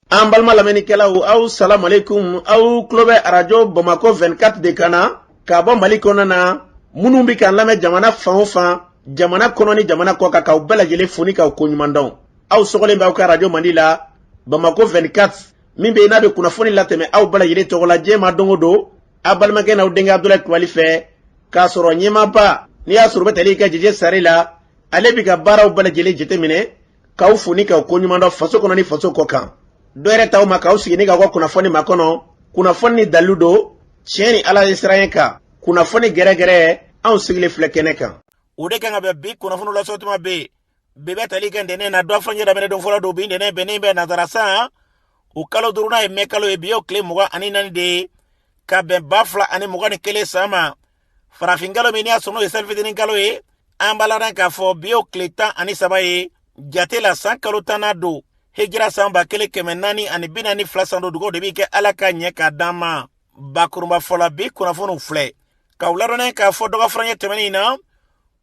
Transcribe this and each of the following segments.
an balima lamɛnnikɛlaw aw salamalekun aw tulo bɛ arajo bamakɔ 24 de kan na ka bɔ mali kɔnɔ na minnu bɛ k'an lamɛn jamana fan o fan jamana kɔnɔ ni jamana kɔ kan k'aw bɛɛ lajɛlen fo ni k'aw ko ɲuman dɔn aw sɔgɔlen bɛ aw ka arajo mandi la bamakɔ 24 min bɛ yen n'a bɛ kunnafoni latɛmɛ aw bɛɛ lajɛlen tɔgɔ la diɲɛ ma don o don aw balimakɛ n'aw denkɛ abudulayi kulubali fɛ k'a sɔrɔ ɲɛmaaba n'i y'a sɔrɔ o bɛ tali kɛ jeje sari la ale bɛ ka baaraw bɛɛ lajɛlen jateminɛ k'aw fo ni k'aw ko ɲuman dɔn faso kɔnɔ ni faso kɔ kan dɔ yɛrɛ t'aw ma k'aw sigi ni k'aw ka kunnafoni makɔnɔ kunnafoni ni dalilu don tiɲɛ ni ala ɲɛsiranɲɛ kan kunnafoni gɛrɛgɛrɛ anw sigilen filɛ kɛnɛ kan o de kan ka bɛn bi kunnafoni lasɔ tuma bɛ yen bi bɛ tali kɛ ntɛnɛn na dɔgɔfurancɛ daminɛ don fɔlɔ don bi ntɛnɛn bɛnnen bɛ nazara san o kalo duurunan ye mɛ kalo ye bi y'o tile mugan ani naani de ye ka bɛn ba fila ani mugan ni kelen san ma farafinkalo min n'i y'a sɔrɔ o ye selifitinin kalo ye an b'a ladan k'a fɔ bi y'o tile tan ani saba ye jate la san kalo tannan don hijira san ba kelen kɛmɛ naani ani bi naani ni fila san don dugaw de bɛ kɛ ala ka ɲɛ k'a d'an ma bakurunba fɔla bi kunnafoniw filɛ k'aw ladɔnniya k'a fɔ dɔgɔfurancɛ tɛmɛnen in na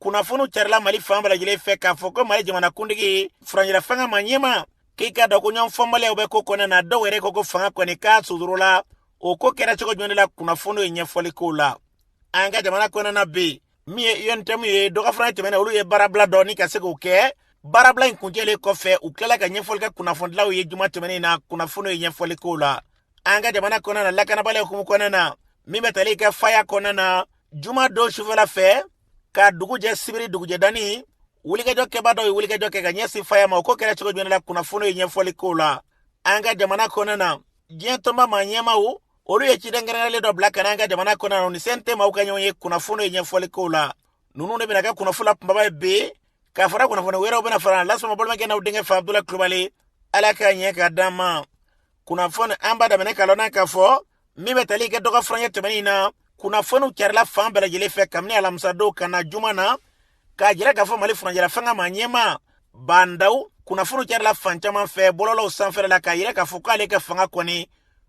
kunnafoniw carila mali fan bɛɛ lajɛlen fɛ k'a fɔ ko mali jamanakuntigi furancɛla fanga maa ɲɛma k'i k'a dɔn ko ɲɔgɔnfaamubaliyaw bɛ ko kɔnɔ na dɔw yɛrɛ ko ko fanga kɔni k'a sudoro la o ko kɛra cogo jumɛn la kunnafoniw ye ɲɛfɔli k'o la an ka jamana kɔnɔna bi min ye UNTM ye dɔgɔfurancɛ tɛmɛnen olu ye baarabila dɔ ni ka se k'o kɛ baarabila in kuncɛlen kɔfɛ u tilala ka ɲɛfɔli kɛ kunnafonidilaw ye juma tɛmɛnen na kunnafoniw ye ɲɛfɔli k'o la an ka jamana kɔnɔna na lakanabaliya hukumu kɔnɔna na min bɛ tali kɛ faya kɔnɔna na juma don sufɛla fɛ ka dugu jɛ sibiri dugujɛ dani wulikajɔ kɛbaa dɔw ye wulikajɔ kɛ ka ɲɛsin faya ma o ko kɛra cogo jumɛn la kunnafoniw ye ɲɛfɔli k'o la an ka jamana kɔnɔna na diɲɛ tɔnba maa ɲɛmaw olu ye ciden kɛrɛnkɛrɛnlen dɔ bila ka n'an ka jamana kɔnɔ u ni CNT maaw ka ɲɔgɔnye kunnafoniw ye ɲɛfɔli k'o la ninnu de bɛna kɛ kunnafoni la kunbaba ye bi k'a fara kunnafoni wɛrɛw bɛna fara lasɔmɔ balimakɛ n'aw denkɛ fa abudulayi kulubali ala k'a ɲɛ k'a d'an ma kunnafoni an b'a daminɛ k'a lɔn k'a fɔ min bɛ tali kɛ dɔgɔ furancɛ tɛmɛnen in na kunnafoniw carila fan bɛɛ lajɛlen fɛ kabini alamisadon ka na juma na k'a yira k'a fɔ mali furancɛla fanga maa ɲɛma ba ndaw kunnafoniw carila fan caman fɛ bɔlɔlɔw sanfɛla la k'a yira k'a fɔ k'ale ka fanga kɔni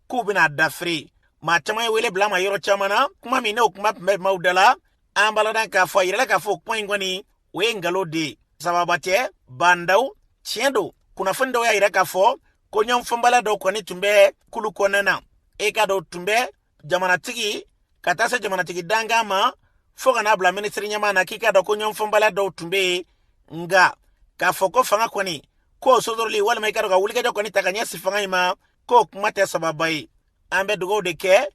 k'u bɛna dafiri maa caman ye wele bil'an ma yɔrɔ caman na kuma min n'o kuma tun bɛ maaw da la an b'a ladan k'a fɔ a yirala k'a fɔ kuma in kɔni o ye ngalon de ye sababa tɛ ba ndaw tiɲɛ don kunnafoni dɔw y'a yira k'a fɔ ko ɲɔgɔnfaamubaliya dɔw kɔni tun bɛ kulu kɔnɔna na e ka dɔw tun bɛ jamanatigi ka taa se jamanatigi dankan ma fɔɔ ka n'a bila minisiri ɲɛmaa na k'i k'a dɔn ko ɲɔgɔnfaamubaliya dɔw tun bɛ yen nga k'a fɔ ko fanga kɔni k'o sodoroli walima i k'a dɔn ka wulikajɔ kɔni ta ka ɲɛsin fanga in ma k'o kuma tɛ sababa ye an bɛ dugaw de kɛ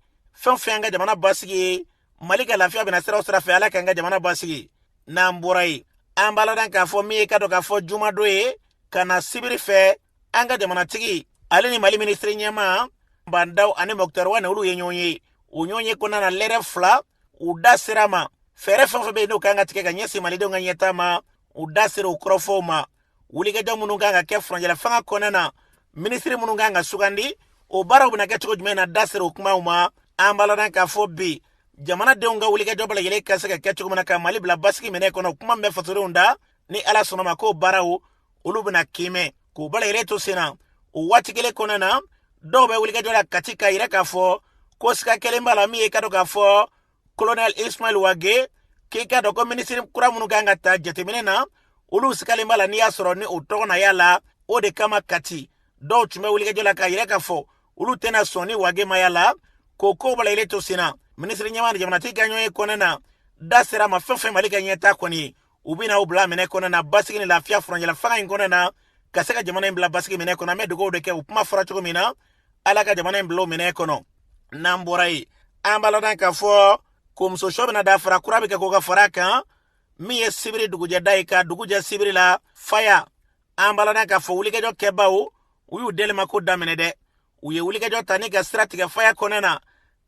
fɛn fɛn an ka jamana basigi ye mali ka lafiya bɛna sira o sira fɛ ala k'an ka jamana basigi n'an bɔra yen an b'a ladan k'a fɔ min ye k'a dɔn k'a fɔ jumadon ye ka na sibiri fɛ an ka jamanatigi ale ni mali minisiri ɲɛmaa ba ndaw ani mɔkutari wane olu ye ɲɔgɔn ye o ɲɔgɔnye kɔnɔna na lɛrɛ fila u da sera ma fɛɛrɛ fɛn fɛn bɛ yen n'o kan ka tigɛ ka ɲɛsin malidenw ka ɲɛtaa ma u da sera o kɔrɔfɔw ma wulikajɔ minnu kan ka kɛ furancɛla fanga kɔnɔna na minisiri minnu kan ka sugandi o baaraw bɛna kɛ cogo jumɛn na da sera o kumaw ma an b'a ladan k'a fɔ bi jamanadenw ka wulikajɔ bɛɛ lajɛlen ka se ka kɛ cogo min na ka mali bila basigi minɛ kɔnɔ kuma min bɛ fasodenw da ni ala sɔnna a ma k'o baaraw olu bɛna kiimɛ k'u bɛɛ lajɛlen to sen na o waati kelen kɔnɔna na dɔw bɛ wulikajɔ la kati k'a yira k'a fɔ ko siga kelen b'a la min ye k'a dɔn k'a fɔ kolonɛl ismail wage k'i k'a dɔn ko minisiri kura minnu kan ka ta jateminɛ na olu sigalen b'a la n'i y'a sɔrɔ ni o tɔgɔ na y'a la o de kama kati dɔw tun bɛ wulikajɔ la k'a yira k'a fɔ olu tɛna sɔn ni wage ma y'a la k'o kow bɛɛ lajɛlen to sen na minisiri ɲɛmaa ni jamanatigi ka ɲɔgɔnye kɔnɔna na da sera ma fɛn fɛn mali ka ɲɛtaa kɔni ye u bɛna o bila minɛ kɔnɔna na basigi ni lafiya furancɛla fanga in kɔnɔna na ka se ka jamana in bila basigi minɛ kɔnɔ an bɛ dugawu de kɛ o kuma fɔra cogo min na ala ka jamana in bila o minɛ kɔnɔ n'an bɔra yen an b'a ladan k'a fɔ ko muso sɔ bɛna da fara kura bɛ kɛ k'o ka fara a kan min ye sibiri dugujɛda ye ka dugu jɛ sibiri la faya an b'a ladan k'a fɔ wulikajɔ kɛbaaw u y'u delimako daminɛ dɛ u ye wulikajɔ ta ni ka sira tigɛ faya kɔnɔna na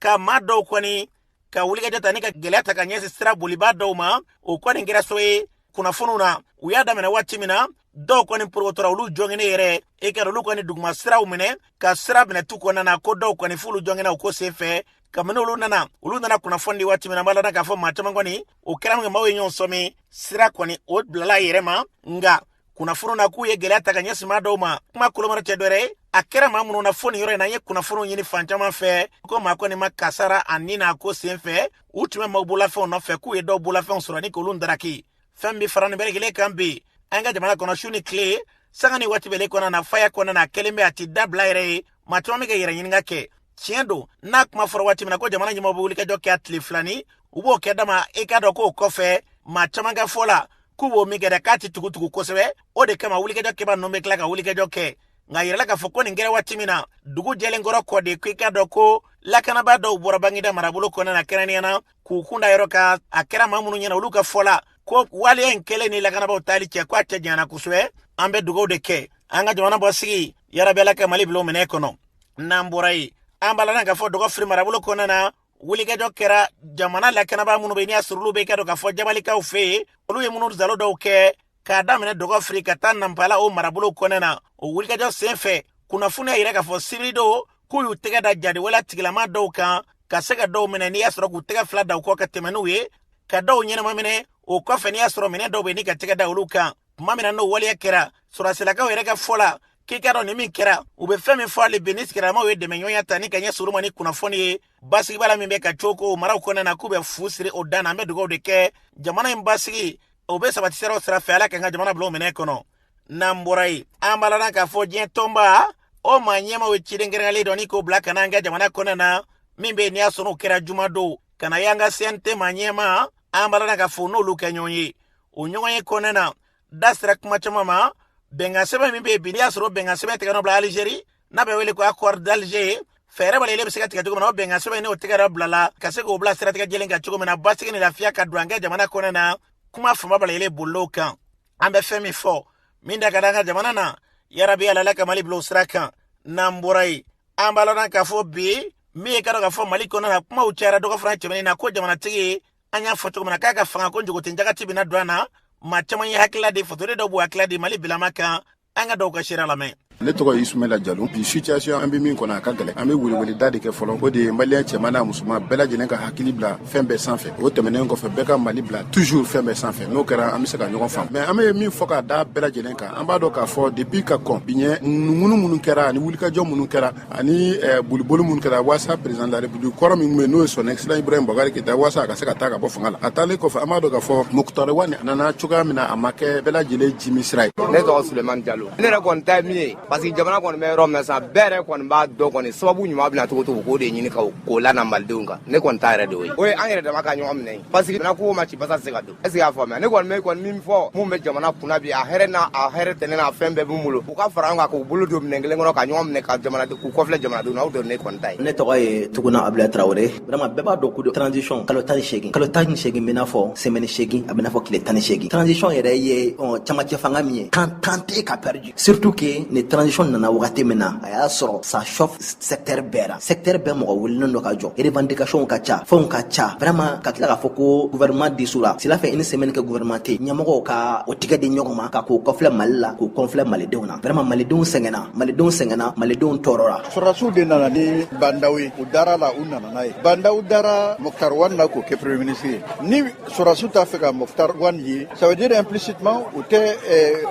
ka maa dɔw kɔni ka wulikajɔ ta ni ka gɛlɛya ta ka ɲɛsin sira bolibaa dɔw ma o kɔni kɛra so ye kunnafoniw na u y'a daminɛ waati min na dɔw kɔni porokotora olu joginnen yɛrɛ e kɛra olu kɔni duguma siraw minɛ ka sira minɛ tu kɔnɔna na ko dɔw kɔni f'olu joginna o ko sen fɛ kabini olu nana olu nana kunnafoni di waati min na an b'a ladan k'a fɔ maa caman kɔni o kɛra minkɛ maaw ye ɲɔgɔn sɔmi sira kɔni o bilala a yɛrɛ ma nka kunnafoni na k'u ye gɛlɛya ta ka ɲɛsin maa dɔw ma kuma koloma yɔrɔ tɛ dɔwɛrɛ ye a kɛra maa minnu na fo nin yɔrɔ in na an ye kunnafoniw ɲini fan caman fɛ ko maa kɔni ma kasara ani n'a ko sen fɛ u tun bɛ maaw bolafɛnw nɔfɛ k'u ye dɔw bolafɛnw sɔrɔ ni k'olu daraki fɛn bɛ fara nin bɛɛ lajɛlen kan bi an ka jamana kɔnɔ su ni tile sanga ni waati bɛɛ lajɛlen kɔnɔna na faya kɔnɔna na kelen bɛ a ti dabila yɛrɛ ye maa caman bɛ ka yɛrɛ ɲininka kɛ tiɲɛ don n'a kuma fɔra waati min na ko jamana ɲɛmaa bɛ wulikajɔ kɛ a tile fila ni u b'o kɛ dama i k'a dɔn k'o kɔfɛ maa caman ka fɔ la k'u b'o min kɛ dɛ k'a ti tugutugu kosɛbɛ o de kama wulikajɔ kɛbaa ninnu bɛ tila ka wulikajɔ kɛ nka a yirala k'a fɔ ko nin kɛra waati min na dugu jɛlen kɔrɔ kɔ de ko i k'a dɔn ko lakanabaa dɔw bɔra baginda marabolo kɔnɔna na kɛrɛnnenya na k'u kun da yɔrɔ kan a kɛra maa minnu ɲɛna olu ka fɔ la ko waleya in kɛlen ni lakanabaaw taali cɛ ko a cɛ janyana kosɛbɛ an bɛ dugaw de kɛ an ka jamana basigi yarabi ala ka mali bila o minɛ kɔnɔ n'an bɔra yen an b'a ladan k'a fɔ dɔgɔfiri marabolo kɔnɔna na wulikajɔ kɛra jamana lakanabaa minnu bɛ n'i y'a sɔrɔ olu bɛ k'a dɔn k'a fɔ jabalikaw fɛ yen olu ye munumunusaalo dɔw kɛ k'a daminɛ dɔgɔfiri ka taa nanpala o marabolo kɔnɔna na o wulikajɔ sen fɛ kunnafoni y'a yira k'a fɔ sibiridon k'u y'u tɛgɛ da jatigɛwale tigilamaa dɔw kan ka se ka dɔw minɛ n'i y'a sɔrɔ k'u tɛgɛ fila da u kɔ ka tɛmɛ n'u ye ka dɔw ɲɛnama minɛ o kɔfɛ n'i y'a sɔrɔ minɛn dɔw bɛ ni ka tɛgɛ da olu kan tuma min na n'o waleya kɛra sɔrɔsilakaw yɛrɛ ka fɔ la k'i k'a dɔn nin min kɛra u bɛ fɛn min fɔ hali bi ni sigidalamaw ye dɛmɛɲɔgɔnya ta ni ka ɲɛsin u ma ni kunnafoni ye basigibaliya min bɛ ka cooko u maraw kɔnɔna na k'u bɛ fu siri o dan na an bɛ dugawu de kɛ jamana in basigi o bɛ sabati siraw sira fɛ ala k'an ka jamana bila o minɛn kɔnɔ n'an bɔra yen an balana k'a fɔ diɲɛ tɔnba o maa ɲɛmaw ye ciden kɛrɛnkɛrɛnlen dɔ ɲini k'o bila ka na an ka jamana kɔnɔna na min bɛ yen n'i y'a sɔrɔ o kɛra juma don ka na y'an ka cnt maa ɲɛma an balana k'a fɔ n'olu ka ɲɔgɔn ye o ɲɔgɔn ye kɔnɔna na da sera kuma caman ma bɛnkan sɛbɛn min bɛ yen bi n'i y'a sɔrɔ bɛnkan sɛbɛn tɛgɛnɔ bila alizeri n'a bɛ wele ko accord d'alger fɛɛrɛ bɛɛ lajɛlen bɛ se ka tigɛ cogo min na o bɛnkan sɛbɛn n'o tɛgɛnɔ bilala ka se k'o bila siratigɛ jɛlen kan cogo min na basigi ni lafiya ka don an ka jamana kɔnɔ na kuma fanba bɛɛ lajɛlen bolila o kan an bɛ fɛn min fɔ min da ka d'an ka jamana na yarabi ala ka mali bila o sira kan n'an bɔra yen an b'a lɔnna k'a fɔ bi min ye k'a dɔn k'a fɔ mali kɔnɔ na kumaw cayara dɔgɔ fana tɛmɛnen na ko jamanatigi an y'a fɔ cogo min na k'a ka fanga ko njogoten jagati bɛna don an na maa caman ye hakilila di fatore dɔ b'u hakilila di mali bilama kan an ka dɔw ka sira lamɛn ne tɔgɔ isumayila jalo bi situation an be min kɔnɔ a ka gɛlɛ an be weleweleda de kɛ fɔlɔ o de ye maliyɛn cɛman n'a musoman bɛɛ lajɛlen ka hakili bila fɛn bɛɛ sanfɛ o tɛmɛnen kɔfɛ bɛɛ ka mali bila toujours fɛn bɛɛ sanfɛ n'o kɛra an be se ka ɲɔgɔn faamu mais an be min fɔ k'a da bɛɛ lajɛlen kan an b'a dɔn k'a fɔ depuis ka kɔn bi ɲɛ ŋunuŋunu minnu kɛra ani wulikajɔ minnu kɛra ani bolibolo minnu kɛra walasa président de la république kɔrɔ min ye n'o ye son excellence ibrahim boubacar keyita walasa a ka se ka taa ka bɔ fanga la a taalen kɔfɛ an b'a dɔn k'a fɔ mukutari wani a nana cogoya min a ma kɛ bɛɛ lajɛlen jimi sira ye ne tɔgɔ suleyimani jalo ne yɛrɛ kɔni ta min ye parce que jamana kɔni bɛ yɔrɔ min na sa bɛɛ yɛrɛ kɔni b'a dɔn kɔni sababu ɲuman bɛna cogo to k'o de ɲini ka k'o lana malidenw kan ne kɔni ta yɛrɛ de ye o ye an yɛrɛ dama ka ɲɔgɔn minɛ parce que kogo ma ci basa tɛ se ka don est ce que i y'a faamuya ne kɔni bɛ kɔni min fɔ minnu bɛ jamana kunna bi a hɛrɛ n'a a hɛrɛ tɛnɛ n'a fɛn bɛɛ b'u bolo u ka fara ɲɔgɔn kan k'u bolo don minɛn kelen kɔnɔ ka ɲɔgɔn minɛ ka jamana k'u kɔfilɛ jamanadenw na aw dɔn ne kɔni ta ye ne tɔgɔ ye tuguna abudulayi tarawele vraiment bɛɛ b'a dɔn ko transition kalo tan ni seegin kalo tan ni seegin bɛ n'a fɔ semaine seegin a bɛ n'a fɔ tile tan ni seegin transition yɛrɛ ye camancɛ fanga min ye kan temps tɛ ka pɛridi Stu kɛ nin tsi nana wagati min na a y'a sɔrɔ sa sɛgteri bɛɛ sɛgteri bɛɛ mɔgɔ wele don ka jɔ erban dekasiw ka ca fɛnw ka ca fɛrɛma ka tila k'a fɔ ko vma di la sira fɛ i ni sɛmkɛ guɛrɛma tɛ ɲɛmɔgɔ ka o tɛgɛ di ɲɔgɔn ma ka k'o kɔlɛ mali la k'u kɔnlɛ malidenw na fɛrɛma malidenw sɛgɛnna malidenw sɛgɛnna malidenw tɔɔrɔ la sɔrɔsiw de nana ni banda ye u dara la u nana ye banda dara mɔgɔkarwa na k'o kɛur minisi ye Sɔrɔdasiw t'a fɛ ka Mukutari Wan ye ça veut dire implicitement u tɛ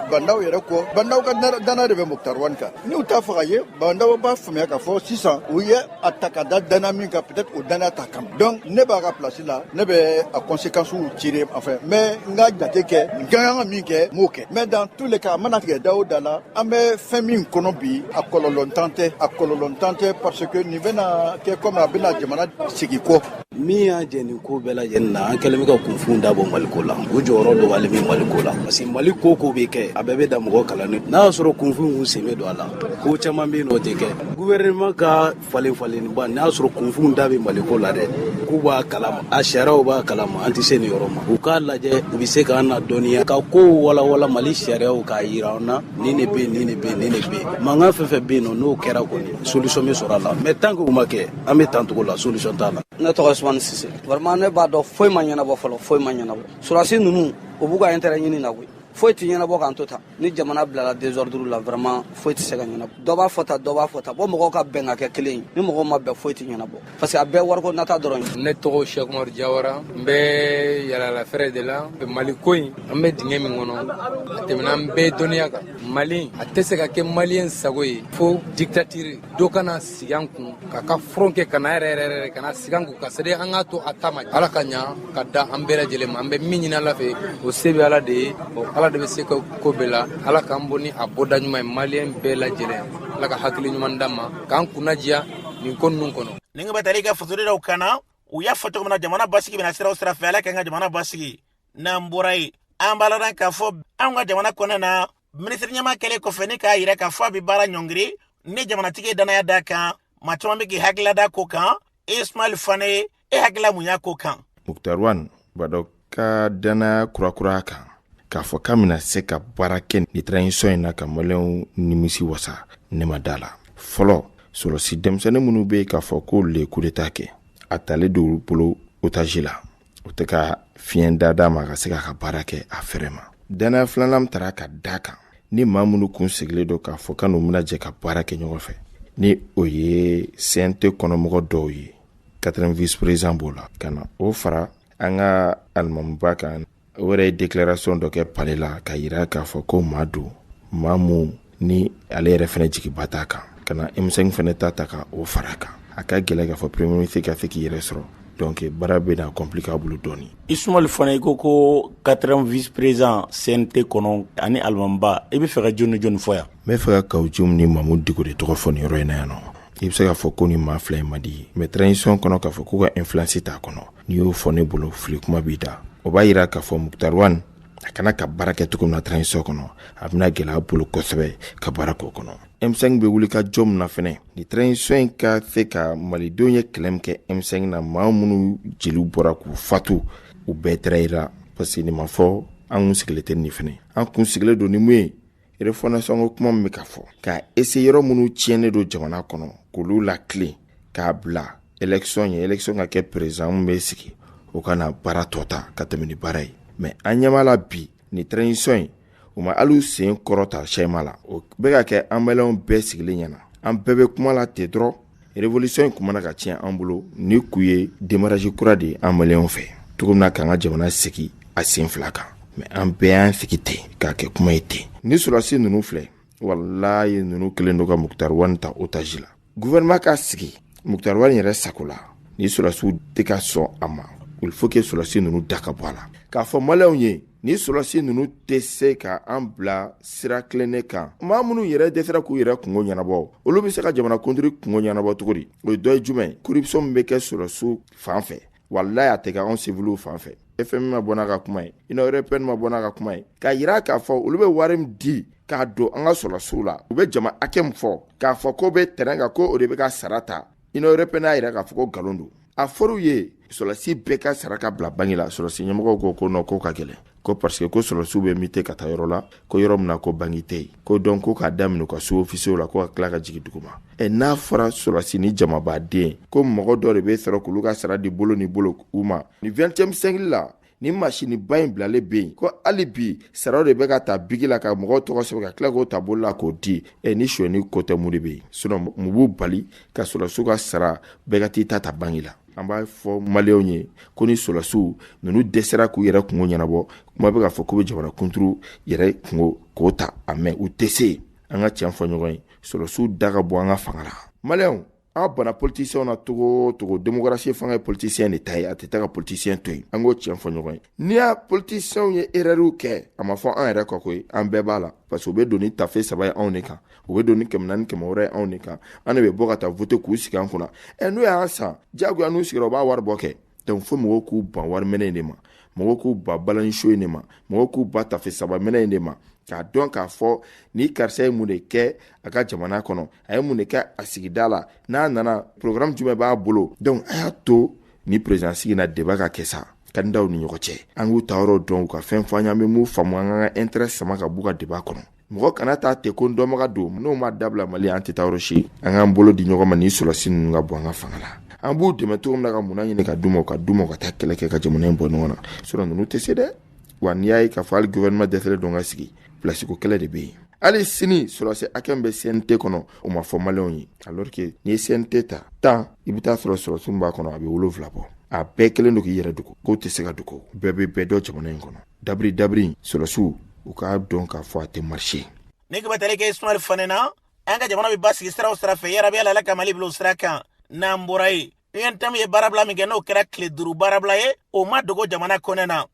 Ba Ndaw yɛrɛ kɔ, Ba Ndaw ka danaya de bɛ Mukutari Wan kan, n'u t'a fɛ k'a ye, Ba Ndaw b'a faamuya k'a fɔ sisan u ye a ta ka da danaya min kan peut être o danaya t'a kan, donc ne b'a ka place la ne bɛ a conséquencew tirer enfin n bɛ n ka jate kɛ n ka kan ka min kɛ n b'o kɛ mais dans tous les cas a mana tigɛ da o da la an bɛ fɛn min kɔnɔ bi a kɔlɔlɔntan tɛ a kɔlɔlɔntan tɛ parce que nin bɛna kɛ comme a bɛna jamana segin kɔ. min y'a jɛ nin ko bɛɛ lajɛlen na an kɛlen bɛ ka kunfunw da bɔ maliko la u jɔyɔrɔ dɔgɔyalen bɛ maliko la parce que mali ko o ko bɛ kɛ a bɛɛ bɛ da mɔgɔ kalannen n'a y'a sɔrɔ kunfunw sen bɛ don a la ko caman bɛ yen o tɛ kɛ guvɛrɛnɛman ka falenfalenniba n'a y'a sɔrɔ kunfunw da bɛ maliko la dɛ k'u b'a kalama a sariyaw b'a kalama an tɛ se nin yɔrɔ ma u k'a lajɛ u bɛ se k'an nadɔnniya ka kow walawala mali sariyaw k'a yira an na nin de bɛ nin de bɛ nin de bɛ mankan fɛn o fɛn bɛ yen nɔ n'o kɛra kɔni solution bɛ sɔrɔ a la mais tant que o ma kɛ an bɛ tan cogo la solution t'a la ne tɔgɔ usumani sise vraiment ne b'a dɔn foyi ma ɲɛnabɔ fɔlɔ foyi ma ɲɛnabɔ surasi ninnu u b'u ka intérêt ɲini na koyi foyi tɛ ɲɛnabɔ k'an to tan ni jamana bilala desordre la vraiment foyi tɛ se ka ɲɛnabɔ dɔ b'a fɔ tan dɔ b'a fɔ tan fo mɔgɔw ka bɛn ka kɛ kelen ye ni mɔgɔw ma bɛn foyi tɛ ɲɛnabɔ parce que a bɛɛ wariko nata dɔrɔn ye ne tɔgɔ sɛki umaru jawara n bɛ yaala feere de la mali ko in an bɛ dingɛ min kɔnɔ a tɛmɛna an bɛɛ dɔnniya kan mali a tɛ se ka kɛ maliyɛn sago ye fo diktatiri dɔ ka na sig'an kun k'a ka furon kɛ ka na yɛrɛ yɛrɛ yɛrɛ ka na sig'an kun ka sɛde an k'a to a ta ma ala ka ɲa ka da an bɛɛ lajɛlen ma an bɛ min ɲini ala fɛ o se bɛ ala de ye ɔ ala de bɛ se ka ko bɛɛ la ala k'an bɔ ni a bɔda ɲuman ye maliyɛn bɛɛ lajɛlen ala ka hakili ɲuman d'an ma k'an kunnadiya nin ko ninnu kɔnɔ ni ka taara i ka fasori dɔw kana u y'a fɔ cogo min na jamana basigi bɛ na sira o sira fɛ ala k'an ka jamana basigi n'an bɔra yen an b'a ladan k'a fɔ an ka jamana kɔnɔna na minisiri ɲɛmaa kɛlen kɔfɛ ni k'a yira k'a fɔ a bɛ baara ɲɔngiri ni jamanatigi ye dannaya d'a kan maa caman bɛ k'i hakilila da ko kan ismail fane e hakilila mun y'a ko kan mukutari wan ba ndaw ka dannaya kurakura kan k'a fɔ k'a bɛna se ka baara kɛ nin transition in na ka maliyɛnw nimisi wasa ne ma da a la fɔlɔ sɔrɔsi denmisɛnnin minnu bɛ yen k'a fɔ k'olu de ye kudeta kɛ a talen don bolo otazi la o tɛ ka fiɲɛ da d'a ma ka se k'a ka baara kɛ a fɛrɛ ma dannaya filanan min taara ka d'a kan ni maa minnu kun sigilen don k'a fɔ ka n'u bɛna jɛ ka baara kɛ ɲɔgɔn fɛ ni o ye cnt kɔnɔmɔgɔ dɔw ye quatrième vice-président b'o la ka na o fara an ka alimamuba kan o yɛrɛ ye deklarasɔn dɔ kɛ pale la k'a yira k'a fɔ ko maa don maa min ni ale yɛrɛ fɛnɛ jigiba t'a kan ka na m5 fɛnɛ ta ta ka o fara kan a ka gɛlɛ k'a fɔ premier ministre ka se k'i yɛrɛ sɔrɔ donc baara bɛna compliqué a bolo dɔɔnin ismail fane i ko ko quatrième vice-président cnt kɔnɔ ani alimamiba i bɛ fɛ ka jɔn jɔni fɔ yan n bɛ fɛ ka kawu jim ni mamudu diko de tɔgɔ fɔ nin yɔrɔ in na yan nɔ i bɛ se k'a fɔ ko ni maa fila in man di mais transition kɔnɔ k'a fɔ k'u ka influence t'a kɔnɔ n'i y'o fɔ ne bolo fili kuma b'i da o b'a yira k'a fɔ mukutari wan a kana ka baara kɛ cogo min na transition kɔnɔ a bɛna gɛlɛya a bolo kosɛbɛ ka baara k'o kɔnɔ m5 bɛ wuli ka jɔ min na fɛnɛ ni transition in ka se ka malidenw ye kɛlɛ min kɛ m5 na maa minnu jeliw bɔra k'u fatu u bɛɛ trahira parce que nin ma fɔ an kun sigilen tɛ nin fɛnɛ an kun sigilen don ni mun ye refondation ko kuma min bɛ ka fɔ ka essayer yɔrɔ minnu tiɲɛnen don jamana kɔnɔ k'olu latilen k'a bila élection ye élection ka kɛ président min bɛ sigi o ka na baara tɔ ta ka tɛmɛ ni baara ye mais an ɲɛ b'a la bi ni transition in u ma hali sen kɔrɔta sɛma la o bɛ ka kɛ an maliyɛnw bɛɛ sigilen ɲɛna an bɛɛ bɛ kuma la ten dɔrɔn Révolution in kun bɛna ka tiɲɛ an bolo ni kun ye démarrage kura de ye an maliyɛnw fɛ cogo min na k'an ka jamana sigi a sen fila kan mais an bɛɛ y'an sigi ten k'a kɛ kuma ye ten ni sɔrɔdasi ninnu filɛ walayi ninnu kelen don ka mukutari wani ta otage la gouvernement ka sigi mukutari wani yɛrɛ sago la ni sɔrɔdasiw tɛ ka sɔn a ma il faut que sɔrɔdasi ninnu da ka bɔ a la k'a fɔ maliyɛnw ye ni sɔrɔsi ninnu tɛ se ka an bila sira tilennen kan maa minnu yɛrɛ dɛsɛra k'u yɛrɛ kungo ɲɛnabɔ olu bɛ se ka jamana kunturu kungo ɲɛnabɔ cogo di o ye dɔ ye jumɛn ye corruption min bɛ kɛ sɔrɔsiw fan fɛ walayi a tɛ kɛ anw siwiliw fan fɛ FMI ma bɔ n'a ka kuma ye Union européenne ma bɔ n'a ka kuma ye k'a yira k'a fɔ olu bɛ wari min di k'a don an ka sɔrɔsiw la u bɛ jama hakɛ min fɔ k'a fɔ k'u bɛ terrain kan ko o de bɛ ka sara ta Union européenne y'a yira k'a fɔ ko nkalon don a fɔr'u ye sɔrɔlasi bɛɛ ka sara ka bila banque la sɔrɔlasi ɲɛmɔgɔw ko ko non k'o ka gɛlɛn ko parce que ko sɔrɔlasiw bɛ muter ka taa yɔrɔ la ko yɔrɔ min na ko banque tɛ yen ko donc ko k'a daminɛ u ka sous-officiers la ko ka tila ka jigin duguma ɛ n'a fɔra sɔrɔlasi ni jamabaden ko mɔgɔ dɔ de bɛ sɔrɔ k'olu ka sara di bolo ni bolo u ma ni 21e siècle la nin masiniba in bilalen bɛ yen ko hali bi saraw de bɛ ka ta biki la ka mɔgɔw tɔgɔ sɛbɛn ka tila k'o ta bolo la k'o di ɛ ni sonyɛni ko tɛ mun de bɛ yen sinon mun b'u bali ka sɔrɔdasiw ka sara bɛɛ ka t'i ta ta banque la an b'a fɔ maliyɛnw ye ko ni sɔrɔdasiw ninnu dɛsɛra k'u yɛrɛ kungo ɲɛnabɔ kuma bɛ k'a fɔ k'u bɛ jamana kunturu yɛrɛ kungo k'o ta a mais u tɛ se an ka tiɲɛ fɔ ɲɔgɔn ye sɔrɔdasiw da ka bɔ an ka fanga la maliyɛnw an bana politisiyɛnw na cogo cogo demokarasi fanga ye politisiyɛn de ta ye a tɛ taa ka politisiyɛn to yen an k'o tiɲɛ fɔ ɲɔgɔn ye n'i y'a politisiyɛnw ye erɛriw kɛ a ma fɔ an yɛrɛ kɔ koyi an bɛɛ b'a la parce que u bɛ don ni tafe saba ye anw de kan u bɛ don ni kɛmɛ naani kɛmɛ wɔɔrɔ ye anw de kan an de bɛ bɔ ka taa voter k'u sigi an kunna ɛ n'u y'an san diyagoya n'u sigira u b'a wari bɔ kɛ donc fo mɔgɔw k'u ban wari minɛ in de ma mɔgɔw k'u ban balani show in de ma mɔgɔw k'u ban tafe saba minɛ in de ma k'a dɔn k'a fɔ ni karisa ye mun de kɛ a ka jamana kɔnɔ a ye mun de kɛ a sigida la n'a nana programme jumɛn b'a bolo donc a y'a to ni président sigi na débat ka kɛ sa kandidaw ni ɲɔgɔn cɛ an k'u ta yɔrɔ dɔn u ka fɛn fɔ an ye an bɛ min faamu an ka intérêt sama ka b'u ka débat kɔnɔ mɔgɔ kana taa ten ko n dɔnbaga don n'o ma dabila mali an tɛ taa yɔrɔ si an k'an bolo di ɲɔgɔn ma ni sɔrɔsi ninnu ka bɔ an ka fanga la an b'u dɛmɛ cogo min na ka minɛn ɲini ka d'u ma ka d'u ma ka taa kɛlɛ kɛ ka jamana in bɔ ɲɔgɔn na sinon ninnu tɛ se dɛ wa n'i y'a ye k'a fɔ hali gɔvɛrɛnɛma dɛsɛlen don ka sigi pilasiko kɛlɛ de bɛ yen hali sini sɔrɔsi hakɛ min bɛ CNT kɔnɔ o ma fɔ maliyɛnw ye alors que n'i ye CNT ta tan i bɛ t'a sɔrɔ sɔrɔsi min b'a kɔnɔ a bɛ wolonwula bɔ a bɛɛ kelen don k'i yɛrɛ dogo k'o tɛ se ka dogo bɛɛ bɛ bɛɛ dɔn jamana in kɔnɔ dabiri dabiri sɔrɔsiw u k'a dɔn k'a fɔ a tɛ marché ni tun bɛ tali kɛ ismail fane na an ka jamana bɛ basigi sira o sira fɛ yarabi ala ka mali bila o sira kan n'an bɔra yen untm ye baarabila min kɛ n'o kɛra tile duuru baarabila ye o ma dogo jamana kɔnɔ na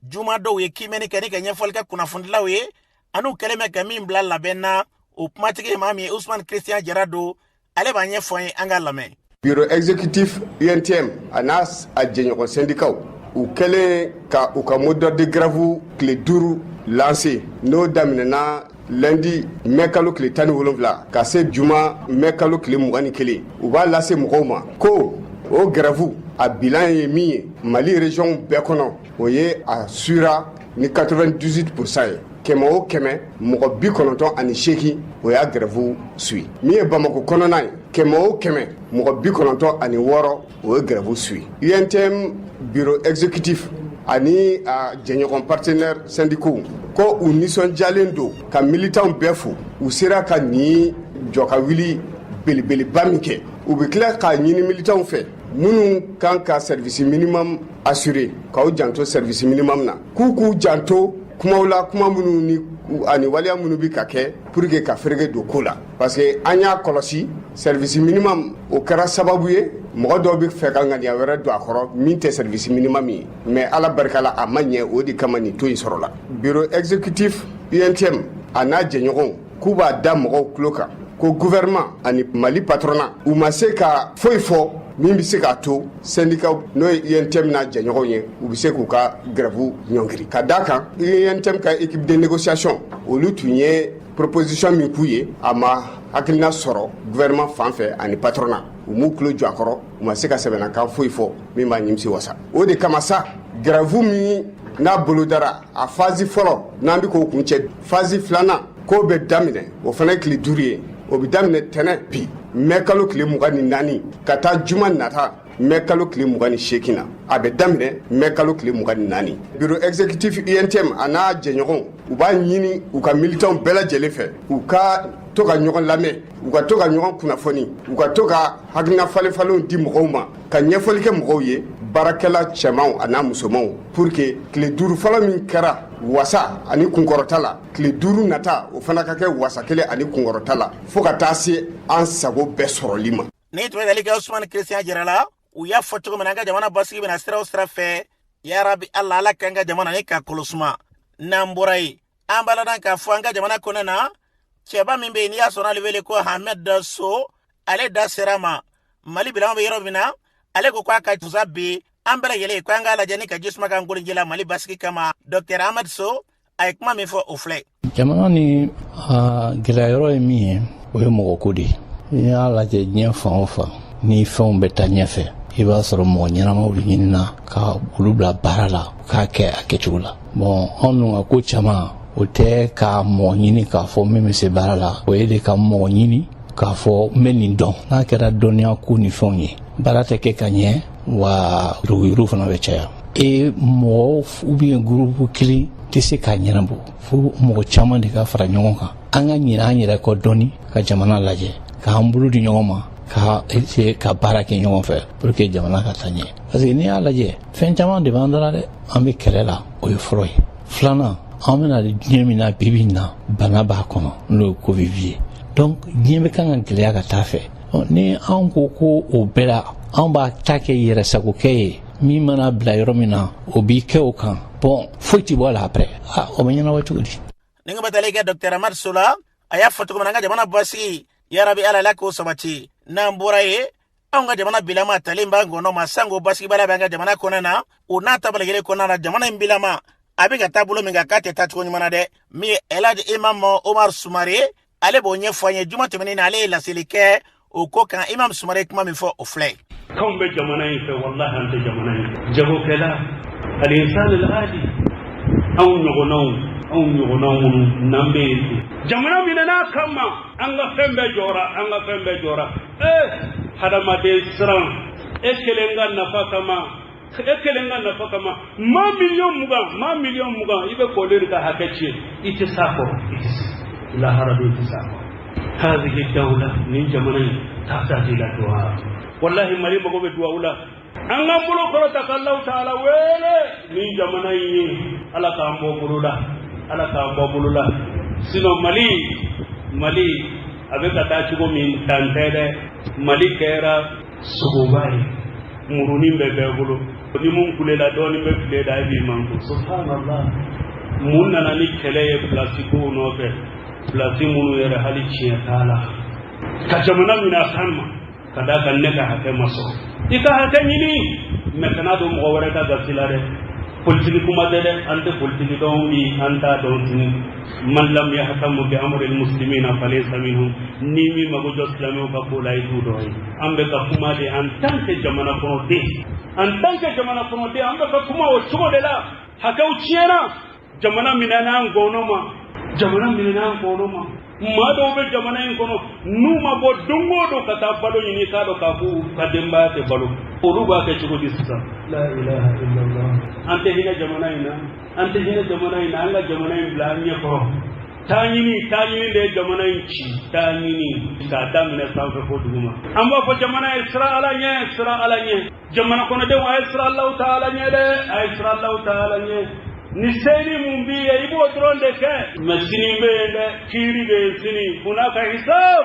juma don u ye kiimɛni kɛ ni ka ɲɛfɔli kɛ kunnafonidilaw ye an'u kɛlen bɛ ka min bila labɛn na o kumatigi ye maa min ye usman christian jara don ale b'a ɲɛfɔ an ye an k'a lamɛn bureau exécutif UNTM a n'a a jɛɲɔgɔn sendikaw u kɛlen ka u ka mot d'ordre de grève tile duuru lanse n'o daminɛna lundi mɛ kalo tile tan ni wolonwula ka se juma mɛ kalo tile mugan ni kelen u b'a lase mɔgɔw ma ko o grève a bilan ye min ye mali regionw bɛɛ kɔnɔ o ye a suivira ni 98 pourcent ye kɛmɛ o kɛmɛ mɔgɔ bi kɔnɔntɔn ani seegin o y'a gɛrɛfu suivi min ye bamako kɔnɔna ye kɛmɛ o kɛmɛ mɔgɔ bi kɔnɔntɔn ani wɔɔrɔ o ye gɛrɛfu suivi untm bureau exécutif ani a jɛɲɔgɔn partenaire syndicaux ko u nisɔndiyalen don ka militanw bɛɛ fo u sera ka nin jɔ ka wuli belebeleba min kɛ u bɛ tila k'a ɲini militanw fɛ minnu kan ka service minimum assurer k'aw janto service minimum na k'u k'u janto kumaw la kuma minnu ni ani waleya minnu bi ka kɛ pour que ka ferege don ko la parce que an y'a kɔlɔsi service minimum o kɛra sababu ye mɔgɔ dɔw bɛ fɛ ka ŋaniya wɛrɛ don a kɔrɔ min tɛ service minimum ye mais ala barika la a ma ɲɛ o de kama nin taux in sɔrɔla bureau exécutif UNTM a n'a jɛɲɔgɔnw k'u b'a da mɔgɔw tulo kan ko gouvernement ani mali patronat u ma se ka foyi fɔ min bɛ se k'a to sɛndikaw n'o ye untm n'a jɛɲɔgɔnw ye u bɛ se k'u ka gɛrɛfu ɲɔngiri ka d'a kan untm ka équipe de négociation olu tun ye proposition min k'u ye a ma hakilina sɔrɔ gouvernement fan fɛ ani patronat u m'u tulo jɔ a kɔrɔ u ma se ka sɛbɛnnakan foyi fɔ min b'a nimisi wasa o de kama sa gɛrɛfu min n'a bolodara a phase fɔlɔ n'an bɛ k'o kuncɛ Phase filanan k'o bɛ daminɛ o fana ye tile duuru ye o bɛ daminɛ tɛnɛ bi mɛ kalo tile mugan ni naani ka taa juma nata mɛ kalo tile mugan ni seegin na a bɛ daminɛ mɛ kalo tile mugan ni naani bureau exécutif untm a n'a jɛɲɔgɔn u b'a ɲini u ka militanw bɛɛ lajɛlen fɛ u ka to ka ɲɔgɔn lamɛn u ka to ka ɲɔgɔn kunnafoni u ka to ka hakilina falenfalenw di mɔgɔw ma ka ɲɛfɔli kɛ mɔgɔw ye baarakɛla cɛmanw a n'a musomanw pour que tile duuru fɔlɔ min kɛra wasa ani kunkɔrɔta la tile duuru nata o fana ka kɛ wasa kelen ani kunkɔrɔta la fo ka taa se an sago bɛɛ sɔrɔli ma ni tun bɛ tali kɛ usman christian jara la u y'a fɔ cogo min na an ka jamana basigi bɛna sira o sira fɛ yarabi ala ala k'an ka jamana ni ka kolosuma n'an bɔra yen an b'a ladɔn k'a fɔ an ka jamana kɔnɔ na cɛba min bɛ yen n'i y'a sɔrɔ ale wele ko hamɛd sow ale da sera ma mali bilaman bɛ yɔrɔ min na ale ko k'a ka tusa bi an bɛɛ lajɛlen ko an k'a lajɛ ni ka jisuma k'an koliji la mali basigi kama dɔktɛr amadu so a ye kuma min fɔ o filɛ jamana nin gɛlɛya yɔrɔ ye min ye o ye mɔgɔko de ye n'i y'a lajɛ diɲɛ fan o fan ni fɛnw bɛ taa ɲɛfɛ i b'a sɔrɔ mɔgɔ ɲɛnamaw de ɲinina ka olu bila baara la k'a kɛ a kɛcogo la bɔn anw dun ka ko caman o tɛ ka mɔgɔ ɲini k'a fɔ min bɛ se baara la o ye de ka mɔgɔ ɲini k'a fɔ n bɛ nin dɔn n'a kɛra dɔnniya ko ni fɛnw ye baara tɛ kɛ ka ɲɛ wa yuruguyurugu fana bɛ caya e mɔgɔ ou bien gurupu kelen tɛ se k'a ɲɛnabɔ fo mɔgɔ caman de ka fara ɲɔgɔn kan an ka ɲinɛ an yɛrɛ kɔ dɔɔni ka jamana lajɛ k'an bolo di ɲɔgɔn ma ka essayer ka baara kɛ ɲɔgɔn fɛ pour que jamana ka taa ɲɛ parce que n'i y'a lajɛ fɛn caman de b'an da la dɛ an bɛ kɛlɛ la o ye fɔlɔ ye filanan an bɛna diɲɛ min na bi bi in na bana b'a kɔnɔ n'o ye covid ye donc diɲɛ bɛ kan ka gɛlɛya ka taa fɛ ni anw ko ko o bɛɛ la anw b'a ta kɛ yɛrɛsagokɛ ye min mana bila yɔrɔ min na o b'i kɛ o kan bɔn foyi tɛ bɔ a la après ah, o bɛ ɲɛnabɔ cogo di nin kan bɛ tali kɛ dɔktɛr amadu so la a y'a fɔ cogo min na an ka jamana basigi yarabi ala ala k'o sabati n'an bɔra yen anw ka jamana bilama talen b'an kɔnɔ ma sanko basigibaliya b'an ka jamana kɔnɔna o n'a taabolo kelen kɔnɔna na jamana in bilama a bɛ ka taa bolo min kan k'a tɛ taa cogo ɲuman na dɛ min ye elhaj imam omar sumare ale b'o ɲɛfɔ an ye juma tɛmɛnen na ale ye laseli kɛ o ko kan imam sumare ye kuma min fɔ o filɛ k'anw bɛ jamana in fɛ walahi an tɛ jamana in fɛ jagokɛla alinsan aladi anw ɲɔgɔnnaw anw ɲɔgɔnnaw minnu n'an bɛ yen ten jamana minɛn'a kan ma an ka fɛn bɛɛ jɔra an ka fɛn bɛɛ jɔra ee hadamaden siran e kelen ka nafa kama e kelen ka nafa kama maa miliyɔn mugan maa miliyɔn mugan i bɛ k'olu de ka hakɛ tiɲɛ i tɛ s'a kɔrɔ i tɛ se lahara don i tɛ s'a kɔrɔ hadihi dawla nin jamana in tahtaju ila duwa walahi mali mago bɛ duwawu la an k'an bolo kɔrɔta ka alahu taala wele nin jamana in ye ala k'an bɔ bolo la ala k'an bɔ bolo la sinɔn mali mali a bɛ ka taa cogo min tan tɛ dɛ mali kɛra sogoba ye murunin bɛ bɛɛ bolo ni min kulela dɔɔnin bɛ fili i da i b'i makun subhanallah mun nana ni kɛlɛ ye pilasi kow nɔfɛ pilasi minnu yɛrɛ hali tiɲɛ t'a la ka jamana minɛ a kan ma ka d'a kan ne ka hakɛ ma sɔrɔ i ka hakɛ ɲini mɛ kana don mɔgɔ wɛrɛ ka gasi la dɛ politiki kuma tɛ dɛ an tɛ politiki dɔn bi an t'a dɔn sini man lam yahtamu bi amri almuslimina falaysa minhum n'i m'i mago jɔ silamɛw ka ko la i t'u dɔ ye an bɛ ka kuma de en tant que jamana kɔnɔden en tant que jamana kɔnɔden an bɛ ka kuma o cogo de la hakɛw tiɲɛna jamana minɛna a ngɔnɔ ma jamana minɛna a ngɔnɔ ma maa dɔw bɛ jamana in kɔnɔ n'u ma bɔ don o don ka taa balo ɲini k'a dɔn k'a fɔ u ka denbaya tɛ balo olu b'a kɛ cogo di sisan la ilaha illallah an tɛ hinɛ jamana in na an tɛ hinɛ jamana in na an ka jamana in bila an ɲɛ kɔrɔ taɲini taɲini de ye jamana in ci taɲini k'a daminɛ sanfɛ fo duguma an b'a fɔ jamana ye siran ala ɲɛ siran ala ɲɛ jamana kɔnɔdenw a ye siran allahu ta'ala ɲɛ dɛ a ye siran allahu ta'ala ɲɛ ni se nin min b'i ye i b'o dɔrɔn de kɛ mais sini bɛ yen dɛ kiiri bɛ yen sini hunaka hisab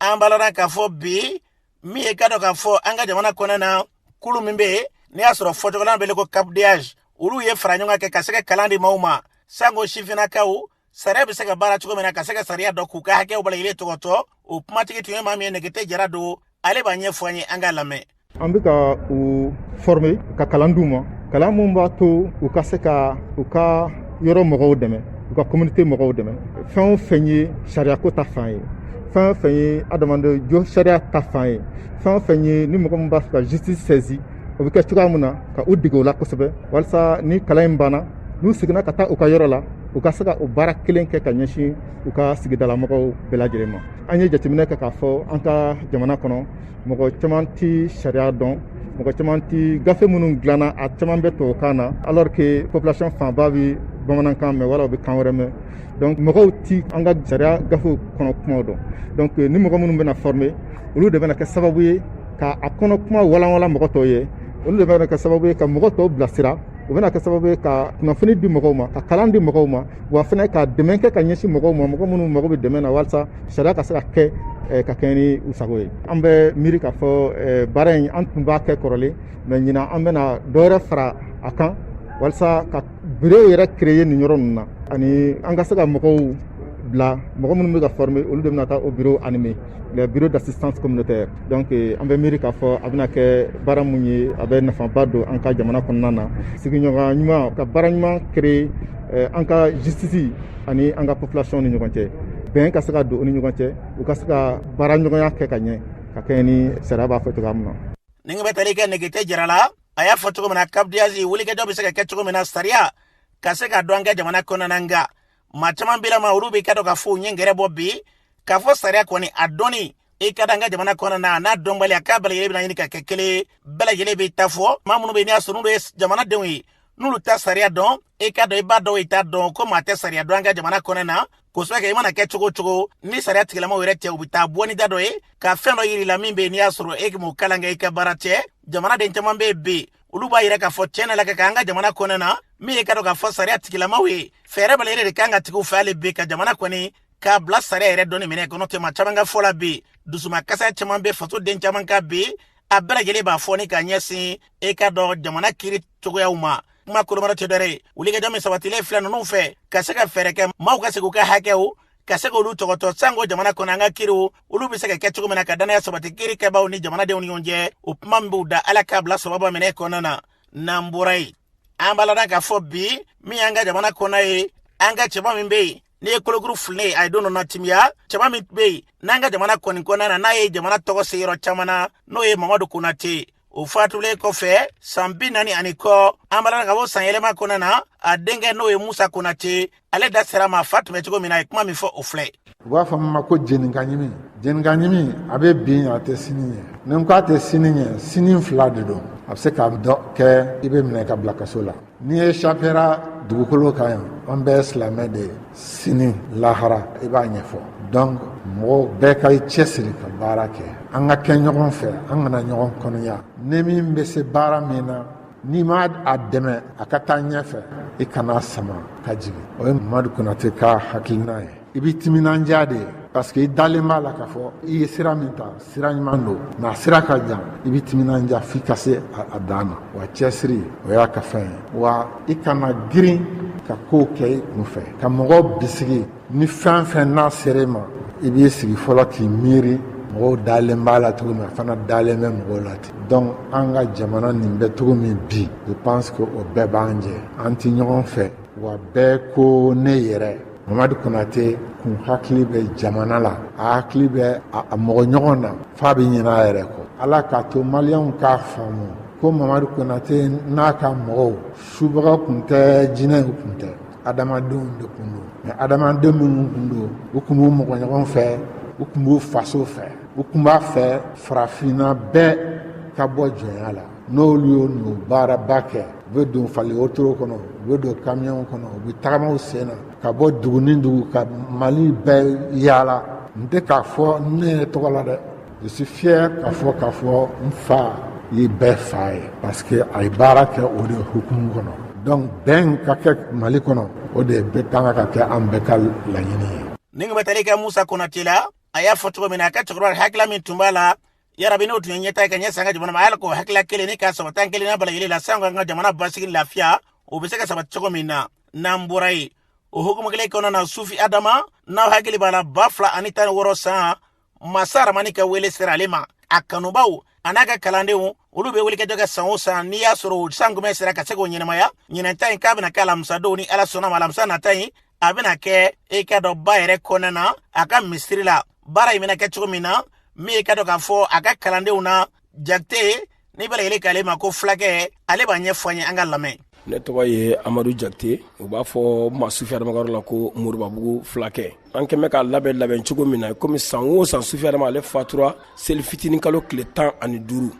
an balana k'a fɔ bi min ye k'a dɔn k'a fɔ an ka jamana kɔnɔ na kulu min bɛ yen n'i y'a sɔrɔ fɔcogo la a bɛ wele ko capdh olu ye faraɲɔgɔnkan kɛ ka se ka kalan di maaw ma sanko sifinnakaw sariya bɛ se ka baara cogo min na ka se ka sariya dɔn k'u ka hakɛw bɛɛ lajɛlen tɔgɔtɔ o kumatigi tun ye maa min ye nɛgɛte jara don ale b'a ɲɛfɔ an ye an ka lamɛn an bɛ ka u former ka kalan d'u ma kalan min b'a to u ka se ka u ka yɔrɔ mɔgɔw dɛmɛ u ka communauté mɔgɔw dɛmɛ fɛn o fɛn ye sariyako ta fan ye fɛn o fɛn ye adamaden josariya ta fan ye fɛn o fɛn ye ni mɔgɔ min b'a fɛ ka justice saisir o bɛ kɛ cogoya min na ka u dege o la kosɛbɛ walasa ni kalan in banna n'u seginna ka taa u ka yɔrɔ la u ka se ka o baara kelen kɛ ka ɲɛsin u ka sigidalamɔgɔw bɛɛ lajɛlen ma an ye jateminɛ kɛ k'a fɔ an ka jamana kɔnɔ mɔgɔ caman tɛ sariya dɔn mɔgɔ caman tɛ gafe minnu dilanna a caman bɛ tubabukan na alors que population fanba bɛ bamanankan mɛn wala u bɛ kan wɛrɛ mɛn donc mɔgɔw tɛ an ka sariya gafew kɔnɔ kumaw dɔn donc euh, ni mɔgɔ minnu bɛna former olu de bɛna kɛ sababu ye ka a kɔnɔ kuma walanwalan mɔgɔ tɔw ye olu de bɛna kɛ sababu ye ka mɔgɔ tɔw bilasira o bɛna kɛ sababu ye ka kunnafoni di mɔgɔw ma ka kalan di mɔgɔw ma wa fana ka dɛmɛ kɛ ka ɲɛsin mɔgɔw ma mɔgɔ minnu mago bɛ dɛmɛ na walasa sariya ka se ka kɛ eh, ka kɛɲɛ ni u sago ye an bɛ miiri k'a fɔ eh, baara in an tun b'a kɛ kɔrɔlen mais ɲinan an bɛna dɔwɛrɛ fara a kan walasa ka bureau yɛrɛ créer nin yɔrɔ ninnu na ani an ka se ka mɔgɔw bila mɔgɔ minnu bɛ ka former olu de bɛna taa o bureau animer le bureau d'assistance communautaire donc eh, an bɛ miiri k'a fɔ a bɛna kɛ baara min ye a bɛ nafaba don an ka jamana kɔnɔna na sigiɲɔgɔn ɲuman ka baara ɲuman créer eh, an ka justice ani an ka population ni ɲɔgɔn cɛ bɛn ka se ka don u ni ɲɔgɔn cɛ u ka se ka baara ɲɔgɔnya kɛ ka ɲɛ ka kɛɲɛ ni sariya b'a fɔ cogoya min na nin kan bɛ tali kɛ nɛgɛte jara la a y'a fɔ cogo min na capdh wulikajɔ bɛ se ka kɛ cogo min na sariya ka se ka dɔn an ka jamana kɔnɔna nka maa caman bila ma olu bɛ k'a dɔn k'a fɔ u ɲɛ gɛrɛ bɔ bi k'a fɔ sariya kɔni a dɔnni i ka da an ka jamana kɔnɔ na n'a dɔnbaliya k'a bɛɛ lajɛlen bɛna ɲini ka kɛ kelen ye bɛɛ lajɛlen bɛ ta fɔ maa minnu bɛ yen n'i y'a sɔrɔ n'olu ye jamanadenw ye n'olu tɛ sariya dɔn i ka dɔn i b'a dɔn i t'a dɔn ko maa tɛ sariya dɔn an ka jamana kɔnɔ na kosɛbɛ kɛ i mana kɛ cogo cogo ni sariya tigilamaw yɛrɛ tɛ u bɛ taa bɔ ni da dɔ ye ka fɛn dɔ yir'i la min bɛ yen n'i y'a sɔrɔ e m'o kalan kɛ i ka baara tɛ jamanaden caman bɛ yen bi olu b'a yira k'a fɔ tiɲɛ na la ka kɛ an ka jamana kɔnɔ na min ye ka dɔn k'a fɔ sariya tigilamaw ye fɛɛrɛ bɛɛ de kan ka tigiw fɛ hali bi ka jamana kɔni k'a bila sariya yɛrɛ dɔnni minɛ kɔnɔ tuma caman ka fɔ la bi dusumakasi caman bɛ faso den caman kan bi a bɛɛ lajɛlen b'a fɔ ni ka ɲɛsin i k'a dɔn jamana kiri cogoyaw ma kuma kolomara tɛ dɔwɛrɛ ye wulikajɔ min sabatilen filɛ ninnu fɛ ka se ka fɛɛrɛ kɛ maaw ka segi u ka hakɛw ka se k'olu tɔgɔtɔ sanko jamana kɔnɔ an ka kiriw olu bɛ se ka kɛ cogo min na ka dannaya sabati kiri kɛbaaw ni jamanadenw ni ɲɔgɔn cɛ o kuma min b'u da ala k'a bila sababa minɛ kɔnɔna na n'an bɔra yen an b'a lada k'a fɔ bi min y'an ka jamana kɔnɔ ye an ka cɛba min bɛ yen ne ye kolokuru fililen ye a ye don dɔ na timiya cɛba min tun bɛ yen n'an ka jamana kɔni kɔnɔna na n'a ye jamana tɔgɔ se yɔrɔ caman na n'o ye mamadu konate o fatulen kɔfɛ san bi naani ani kɔ an balala ka bɔ sanyɛlɛma kɔnɔna na a denkɛ n'o ye musa konate ale da sera ma fa tun bɛ cogo min na a ye kuma min fɔ o filɛ u b'a fɔ min ma ko jeninka ɲimi jeninka ɲimi a bɛ bi ɲɛ a tɛ sini ɲɛ ni n ko a tɛ sini ɲɛ sini fila de don a bɛ se k'a dɔ kɛ i bɛ minɛ ka bila kaso la n'i échappera dugukolo kan yan an bɛɛ silamɛ de ye sini lahara i b'a ɲɛfɔ donc mɔgɔw bɛɛ k'i cɛsiri ka baara kɛ an ka kɛ ɲɔgɔn fɛ an kana ɲɔgɔn kɔnɔya ni min bɛ se baara min na n'i ma a dɛmɛ a ka taa ɲɛfɛ i kan'a sama ka jigin o ye mamadu konate ka hakilina ye i b'i timinandiya dɛ parce que i dalen b'a la k'a fɔ i ye sira min ta sira ɲuman don nka sira ka jan i bɛ timinandiya f'i ka se a dan na wa cɛsiri o y'a ka fɛn ye wa i kana girin ka kow kɛ i kun fɛ ka mɔgɔw bisigi ni fɛn fɛn n'a sera i ma i b'i sigi fɔlɔ k'i miiri mɔgɔw dalen b'a la cogo min a fana dalen bɛ mɔgɔw la ten donc an ka jamana nin bɛ cogo min bi je pense que o bɛɛ b'an jɛ an tɛ ɲɔgɔn fɛ wa bɛɛ ko ne yɛrɛ mamadu konate kun hakili bɛ jamana la a hakili bɛ a mɔgɔ ɲɔgɔn na f'a bɛ ɲinɛ a yɛrɛ kɔ ala k'a to maliyɛnw k'a faamu ko mamadu konate n'a ka mɔgɔw subaga kun tɛ jinɛw kun tɛ adamadenw de kun don mais adamaden minnu kun don u kun b'u mɔgɔ ɲɔgɔn fɛ u kun b'u faso fɛ u kun b'a fɛ farafinna bɛɛ ka bɔ jɔnya la n'olu y'o n'o baaraba kɛ u bɛ don fali wotoro kɔnɔ u bɛ don kamiyɔnw kɔnɔ u bɛ tagama u sen na ka bɔ dugu ni dugu ka mali bɛɛ yaala n tɛ k'a fɔ ne yɛrɛ tɔgɔ la dɛ je suis fier k'a fɔ k'a fɔ n fa ye bɛɛ fa ye parce que a ye baara kɛ o de hukumu kɔnɔ donc bɛn ka kɛ mali kɔnɔ o de bɛ kan ka kɛ an bɛɛ ka laɲini ye ni ka bɛ taali kɛ musa konate la a y'a fɔ cogo min na a ka cɛkɔrɔba hakilila min tun b'a la yarabi n'o tun ye ɲɛta ka ɲɛsin an ka jamana ma ala k'o hakilila kelen nin ka sabati an kelen na bɛɛ lajɛlen la sanko an ka jamana basigi lafiya o bɛ se ka sabati cogo min na n'an bɔra yen o hukumu kelen kɔnɔ na sufi adama n'aw hakili b'a la ba fila ani tan ni wɔɔrɔ san masa aramani ka wele sera ale ma a kanubaw a n'a ka kalandenw olu bɛ wulikajɔ kɛ san o san n'i y'a sɔrɔ o sankunbɛn sera ka se k'o ɲɛnamaya ɲinɛn ta in k'a bɛna kɛ alamisadon ni ala sɔnna a ma alamisa nata in a bɛna kɛ i k'a dɔn ba yɛrɛ kɔnɔna na a ka misiri la baara in bɛna kɛ cogo min na min ye i k'a dɔn k'a fɔ a ka kalandenw na jakite ni bɛɛ lajɛlen k'ale ma ko fulakɛ ale b'a ɲɛfɔ an ye an ka lamɛn ne tɔgɔ ye amadu jakite u b'a fɔ n ma sufi adama ka yɔrɔ la ko moribabugu fulakɛ an kɛmɛ k'a labɛn labɛn cogo min na komi san o san sufi adama ale fatura seli fitinin kalo tile tan ani duuru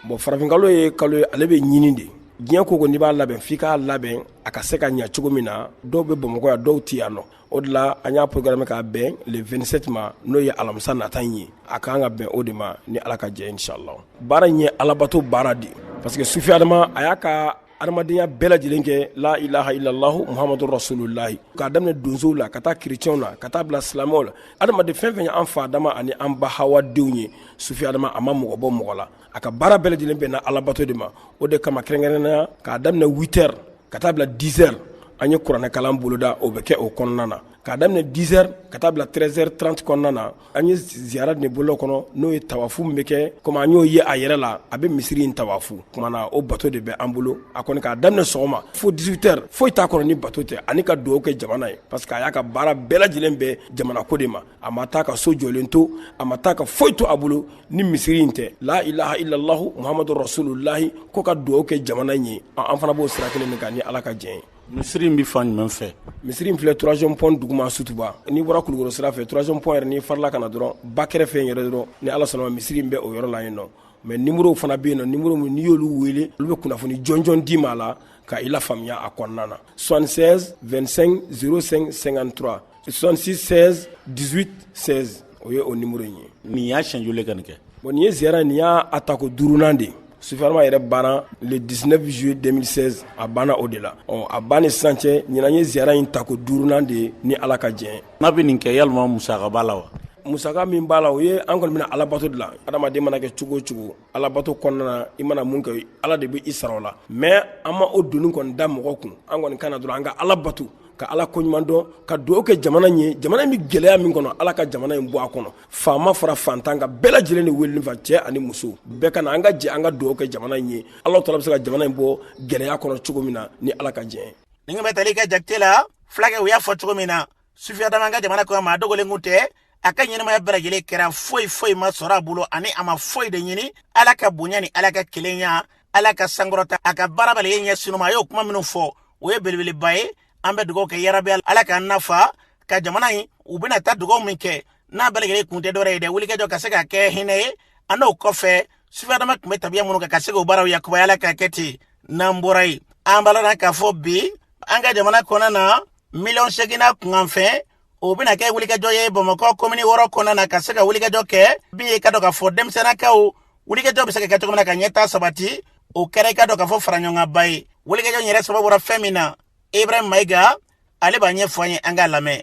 bon farafinkalo ye kalo ye ale bɛ ɲini de diɲɛ ko ko n'i b'a labɛn f'i k'a labɛn a ka se ka ɲa cogo min na dɔw bɛ bamakɔ yan dɔw tɛ yan nɔ o de la an y'a programmé k'a bɛn le 27 ma n'o ye alamisa nata in ye a ka kan ka bɛn o de ma ni ala ka jɛ inshallah baara in ye alabato baara de parce que sufi adama a y'a ka adamadenya bɛɛ lajɛlen kɛ la ilaha illallahu muhamadu rasulullahi k'a daminɛ donsow la ka taa kerecɛnw la ka taa bila silamɛw la adamaden fɛn fɛn ye an fa adama ani an ba hawa denw ye sufi adama a ma mɔgɔ bɔ mɔgɔ la a ka baara bɛɛ lajɛlen bɛnna Alabato de ma o de kama kɛrɛnkɛrɛnnenya k'a daminɛ 8 heures ka taa bila 10 heures an ye kuranɛkalan boloda o bɛ kɛ o kɔnɔna na k'a daminɛ 10 heures ka taa bila 13 heures 30 kɔnɔna na an ye ziyara nin boloda o kɔnɔ n'o ye tawafu min bɛ kɛ komi an y'o ye a yɛrɛ la a bɛ misiri in tawafu kumana o bato de bɛ an bolo a kɔni k'a daminɛ sɔgɔma fo 18 heures foyi t'a kɔnɔ ni bato tɛ ani ka dugawu kɛ jamana ye parce que a y'a ka baara bɛɛ lajɛlen bɛn jamanako de ma a ma taa ka so jɔlen to a ma taa ka foyi to a bolo ni misiri in tɛ la ilaha illallahu muhamadu rasulullahi ko ka dugawu kɛ jamana in ye an fana b'o sira kelen nin kan ni ala ka jɛn ye misiri in bɛ fan jumɛn fɛ misiri in filɛ troisième pont duguma sutuba n'i bɔra kulukoro sira fɛ troisième pont yɛrɛ n'i farala ka na dɔrɔn ba kɛrɛfɛ in yɛrɛ dɔrɔn ni ala sɔnna a ma misiri in bɛ o yɔrɔ la yen nɔ mais numérow fana bɛ yen nɔ numéro min n'i y'olu wele olu bɛ kunnafoni jɔnjɔn d'i ma a la ka i lafaamuya a kɔnɔna na 76 25 05 53 66 16 18 16 o ye o numéro in ye nin y'a siɲɛ joli ka nin kɛ bon nin ye ziyara nin y'a tako duurunan de sufi adama yɛrɛ banna le 19 juillet 2016 a banna o de la ɔ a ban ni sisan cɛ ɲinan ye ziyara in tako duurunan de ye ni ala ka jɛn n'a bɛ nin kɛ yala musaka b'a la wa musaka min b'a la o ye an kɔni bɛ alabato de la adamaden mana kɛ cogo o cogo alabato kɔnɔna na i mana mun kɛ ala de bɛ i sara o la mais an ma o doni kɔni da mɔgɔ kun an kɔni ka na dɔrɔn an ka ala bato ka ala ko ɲuman dɔn ka dugawu kɛ jamana ye jamana in bɛ gɛlɛya min kɔnɔ ala ka jamana in bɔ a kɔnɔ faama fara fantan kan bɛɛ lajɛlen de wele fa cɛ ani muso bɛɛ ka na an ka jɛ an ka dugawu kɛ jamana in ye ala taala bɛ se ka jamana in bɔ gɛlɛya kɔnɔ cogo min na ni ala ka jɛ nin bɛ tali kɛ jakite la fulakɛ u y'a fɔ cogo min na sufi adama an ka jamana kɔnɔ maa dogolen kun tɛ a ka ɲɛnamaya bɛɛ lajɛlen kɛra foyi foyi ma sɔrɔ a bolo ani a ma foyi de ɲini ala ka bonya ni ala ka kelenya ala ka sankɔrɔta a ka baara bɛɛ lajɛlen ɲɛsin o ma a y'o kuma minnu fɔ o ye belebeleba ye an bɛ dugawu kɛ yarabi ala k'an nafa ka jamana in u bɛna taa dugawu min kɛ n'a bɛɛ lajɛlen kun tɛ dɔwɛrɛ ye dɛ wulikajɔ ka se ka kɛ hinɛ ye an'o kɔfɛ sufi adama tun bɛ tabiya minnu kan ka se k'o baaraw lakunbaya ala ka kɛ ten n'an bɔra yen an b'a lana k'a fɔ bi an ka jamana kɔnɔna na miliyɔn seegin na kunkanfɛn o bɛna kɛ wulikajɔ ye bamakɔ komini wɔɔrɔ kɔnɔna na ka se ka wulikajɔ kɛ min ye k'a dɔn k'a fɔ denmisɛnnakaw wulikajɔ bɛ se ka kɛ cogo min na ka ɲɛtaa sabati o kɛra i k'a dɔn k'a fɔ faraɲɔgɔnkanba ye wulikajɔ in yɛrɛ sababu bɔra fɛn min na ibrahim mayiga ale b'a ɲɛfɔ an ye an k'a lamɛn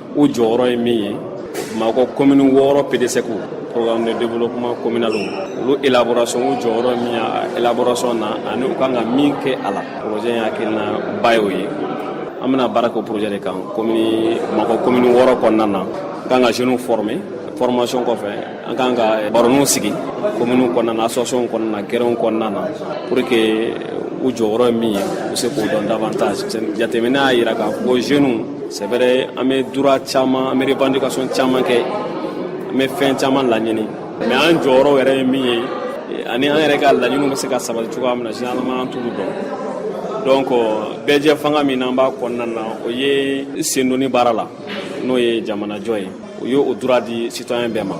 u jɔyɔrɔ ye min ye bamakɔ komini wɔɔrɔ PDESC programme de développement communal olu élaboration u jɔyɔrɔ ye min ye a élaboration na ani u kan ka min kɛ a la projet in hakilina ba y'o ye an bɛna baara kɛ o projet de kan komini bamakɔ komini wɔɔrɔ kɔnɔna na an kan ka jeunes former formation kɔfɛ an kan ka baroninw sigi kominiw kɔnɔna na associationw kɔnɔna na gɛrɛnw kɔnɔna na pour que u jɔyɔrɔ ye min ye u se k'o dɔn davantage jateminɛ y'a yira k'a fɔ jeunes c'est vrai an bɛ droit caman an bɛ revendication caman kɛ an bɛ fɛn caman laɲini mais an jɔyɔrɔ yɛrɛ ye min ye ani an yɛrɛ ka laɲiniw bɛ se ka sabati cogoya min na généralement an t'olu dɔn donc bɛɛjɛfanga min n'an b'a kɔnɔna na o ye sendonni baara la n'o ye jamanajɔ ye u y'o droit di citoyen bɛɛ ma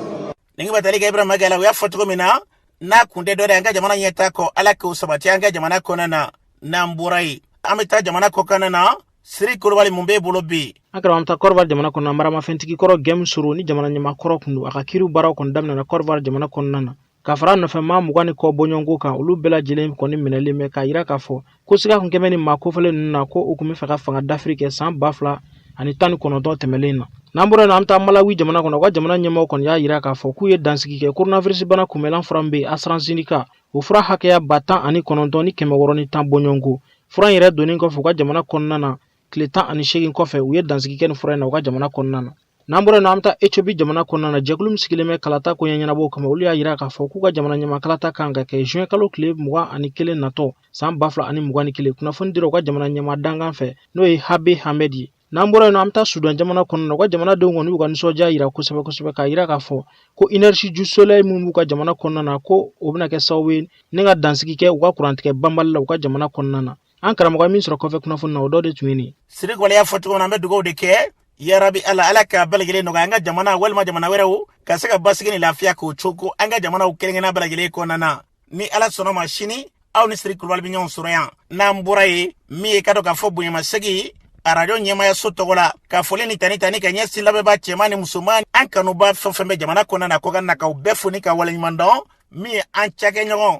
nin bɛ tali kɛ ibrahim mayiga la u y'a fɔ cogo min na n'a kun tɛ dɔwɛrɛ an ka jamana ɲɛtaa kɔ ala k'o sabati an ka jamana kɔnɔna na n'an bɔra yen an bɛ taa jamana kɔkanna na siri kulubali mun b'e bolo bi an karamɔgɔ taa Côte d'Ivoire jamana kɔnɔna maramafɛntigi kɔrɔ Guillaume Soro ni jamana ɲɛmaa kɔrɔ kun don a ka kiriw baaraw kɔni daminɛna Côte d'Ivoire jamana kɔnɔna na Ka fara a nɔfɛ maa mugan ni kɔ bɔɲɔgɔnko kan olu bɛɛ lajɛlen kɔni minɛlen bɛ k'a yira k'a fɔ ko siga kun kɛlen bɛ nin maa kofɔlen ninnu na ko u kun bɛ fɛ ka fanga dafiri kɛ san ba fila ani tan ni kɔnɔntɔn tɛmɛnlen in na n'an bɔra yen an bɛ taa Malawi jamana kɔnɔ u ka jamana ɲɛmɔgɔ kɔni y'a yira k'a fɔ k'u ye dansigi kɛ koronawirisibana kunbɛnlan fura min bɛ yen AstraZeneca o fura hakɛya ba tan ani kɔnɔntɔn ni kɛmɛ wɔɔrɔ ni tan bɔɲɔgɔnko fura in yɛrɛ donnen kɔfɛ u ka jamana kɔnɔna na tile tan ani seegin kɔfɛ u ye dansigi kɛ ni fura in na u ka jamana kɔnɔna na n'an bɔra yen nɔ an bɛ taa etiopi jamana kɔnɔna na jɛkulu min sigilen bɛ kalata koɲɛ ɲɛnabɔw kama olu y'a jira k'a fɔ k'u ka jamana ɲɛma kalata kan ka kɛ juin kalo tile mugan ani kelen natɔ san ba fila ani mugan ni kelen kunnafoni dira u ka jamana ɲɛma dankan fɛ n'o ye habe hamed ye n'an bɔra yen nɔ an bɛ taa sudan jamana kɔnɔna na u ka jamanadenw kɔni y'u ka nisɔndiya jira kosɛbɛ kosɛbɛ k'a jira k'a fɔ ko énergie du soleil minnu b'u ka jamana kɔnɔna na ko o bɛna kɛ sababu ye ni ka dansigi kɛ u ka kurantigɛ banbali la u ka jamana kɔnɔna na an karamɔgɔ min sɔrɔ kɔfɛ kunnafoni na o dɔ de tun ye nin siri kulubali y'a fɔ cogo min na an bɛ dugawu de kɛ yarabi ala ala ka bɛɛ lajɛlen nɔgɔya an ka jamana walima jamana wɛrɛw ka se ka basigi ni lafiya k'o cogo an ka jamanaw kelenkelenna bɛɛ lajɛlen kɔnɔna na ni ala sɔnna ma sini aw ni siri kulubali bɛ ɲɔgɔn sɔrɔ yan n'an bɔra yen min ye ka dɔn k'a fɔ bonyamasegi arajo ɲɛmayaso tɔgɔ la ka foli ni tanu tanu ka ɲɛsin lamɛnbaa cɛman ni musoman an kanuba fɛn fɛn bɛ jamana kɔnɔna na kɔkan na k'aw bɛɛ fo ni ka waleɲuman dɔn min ye an cakɛɲɔgɔn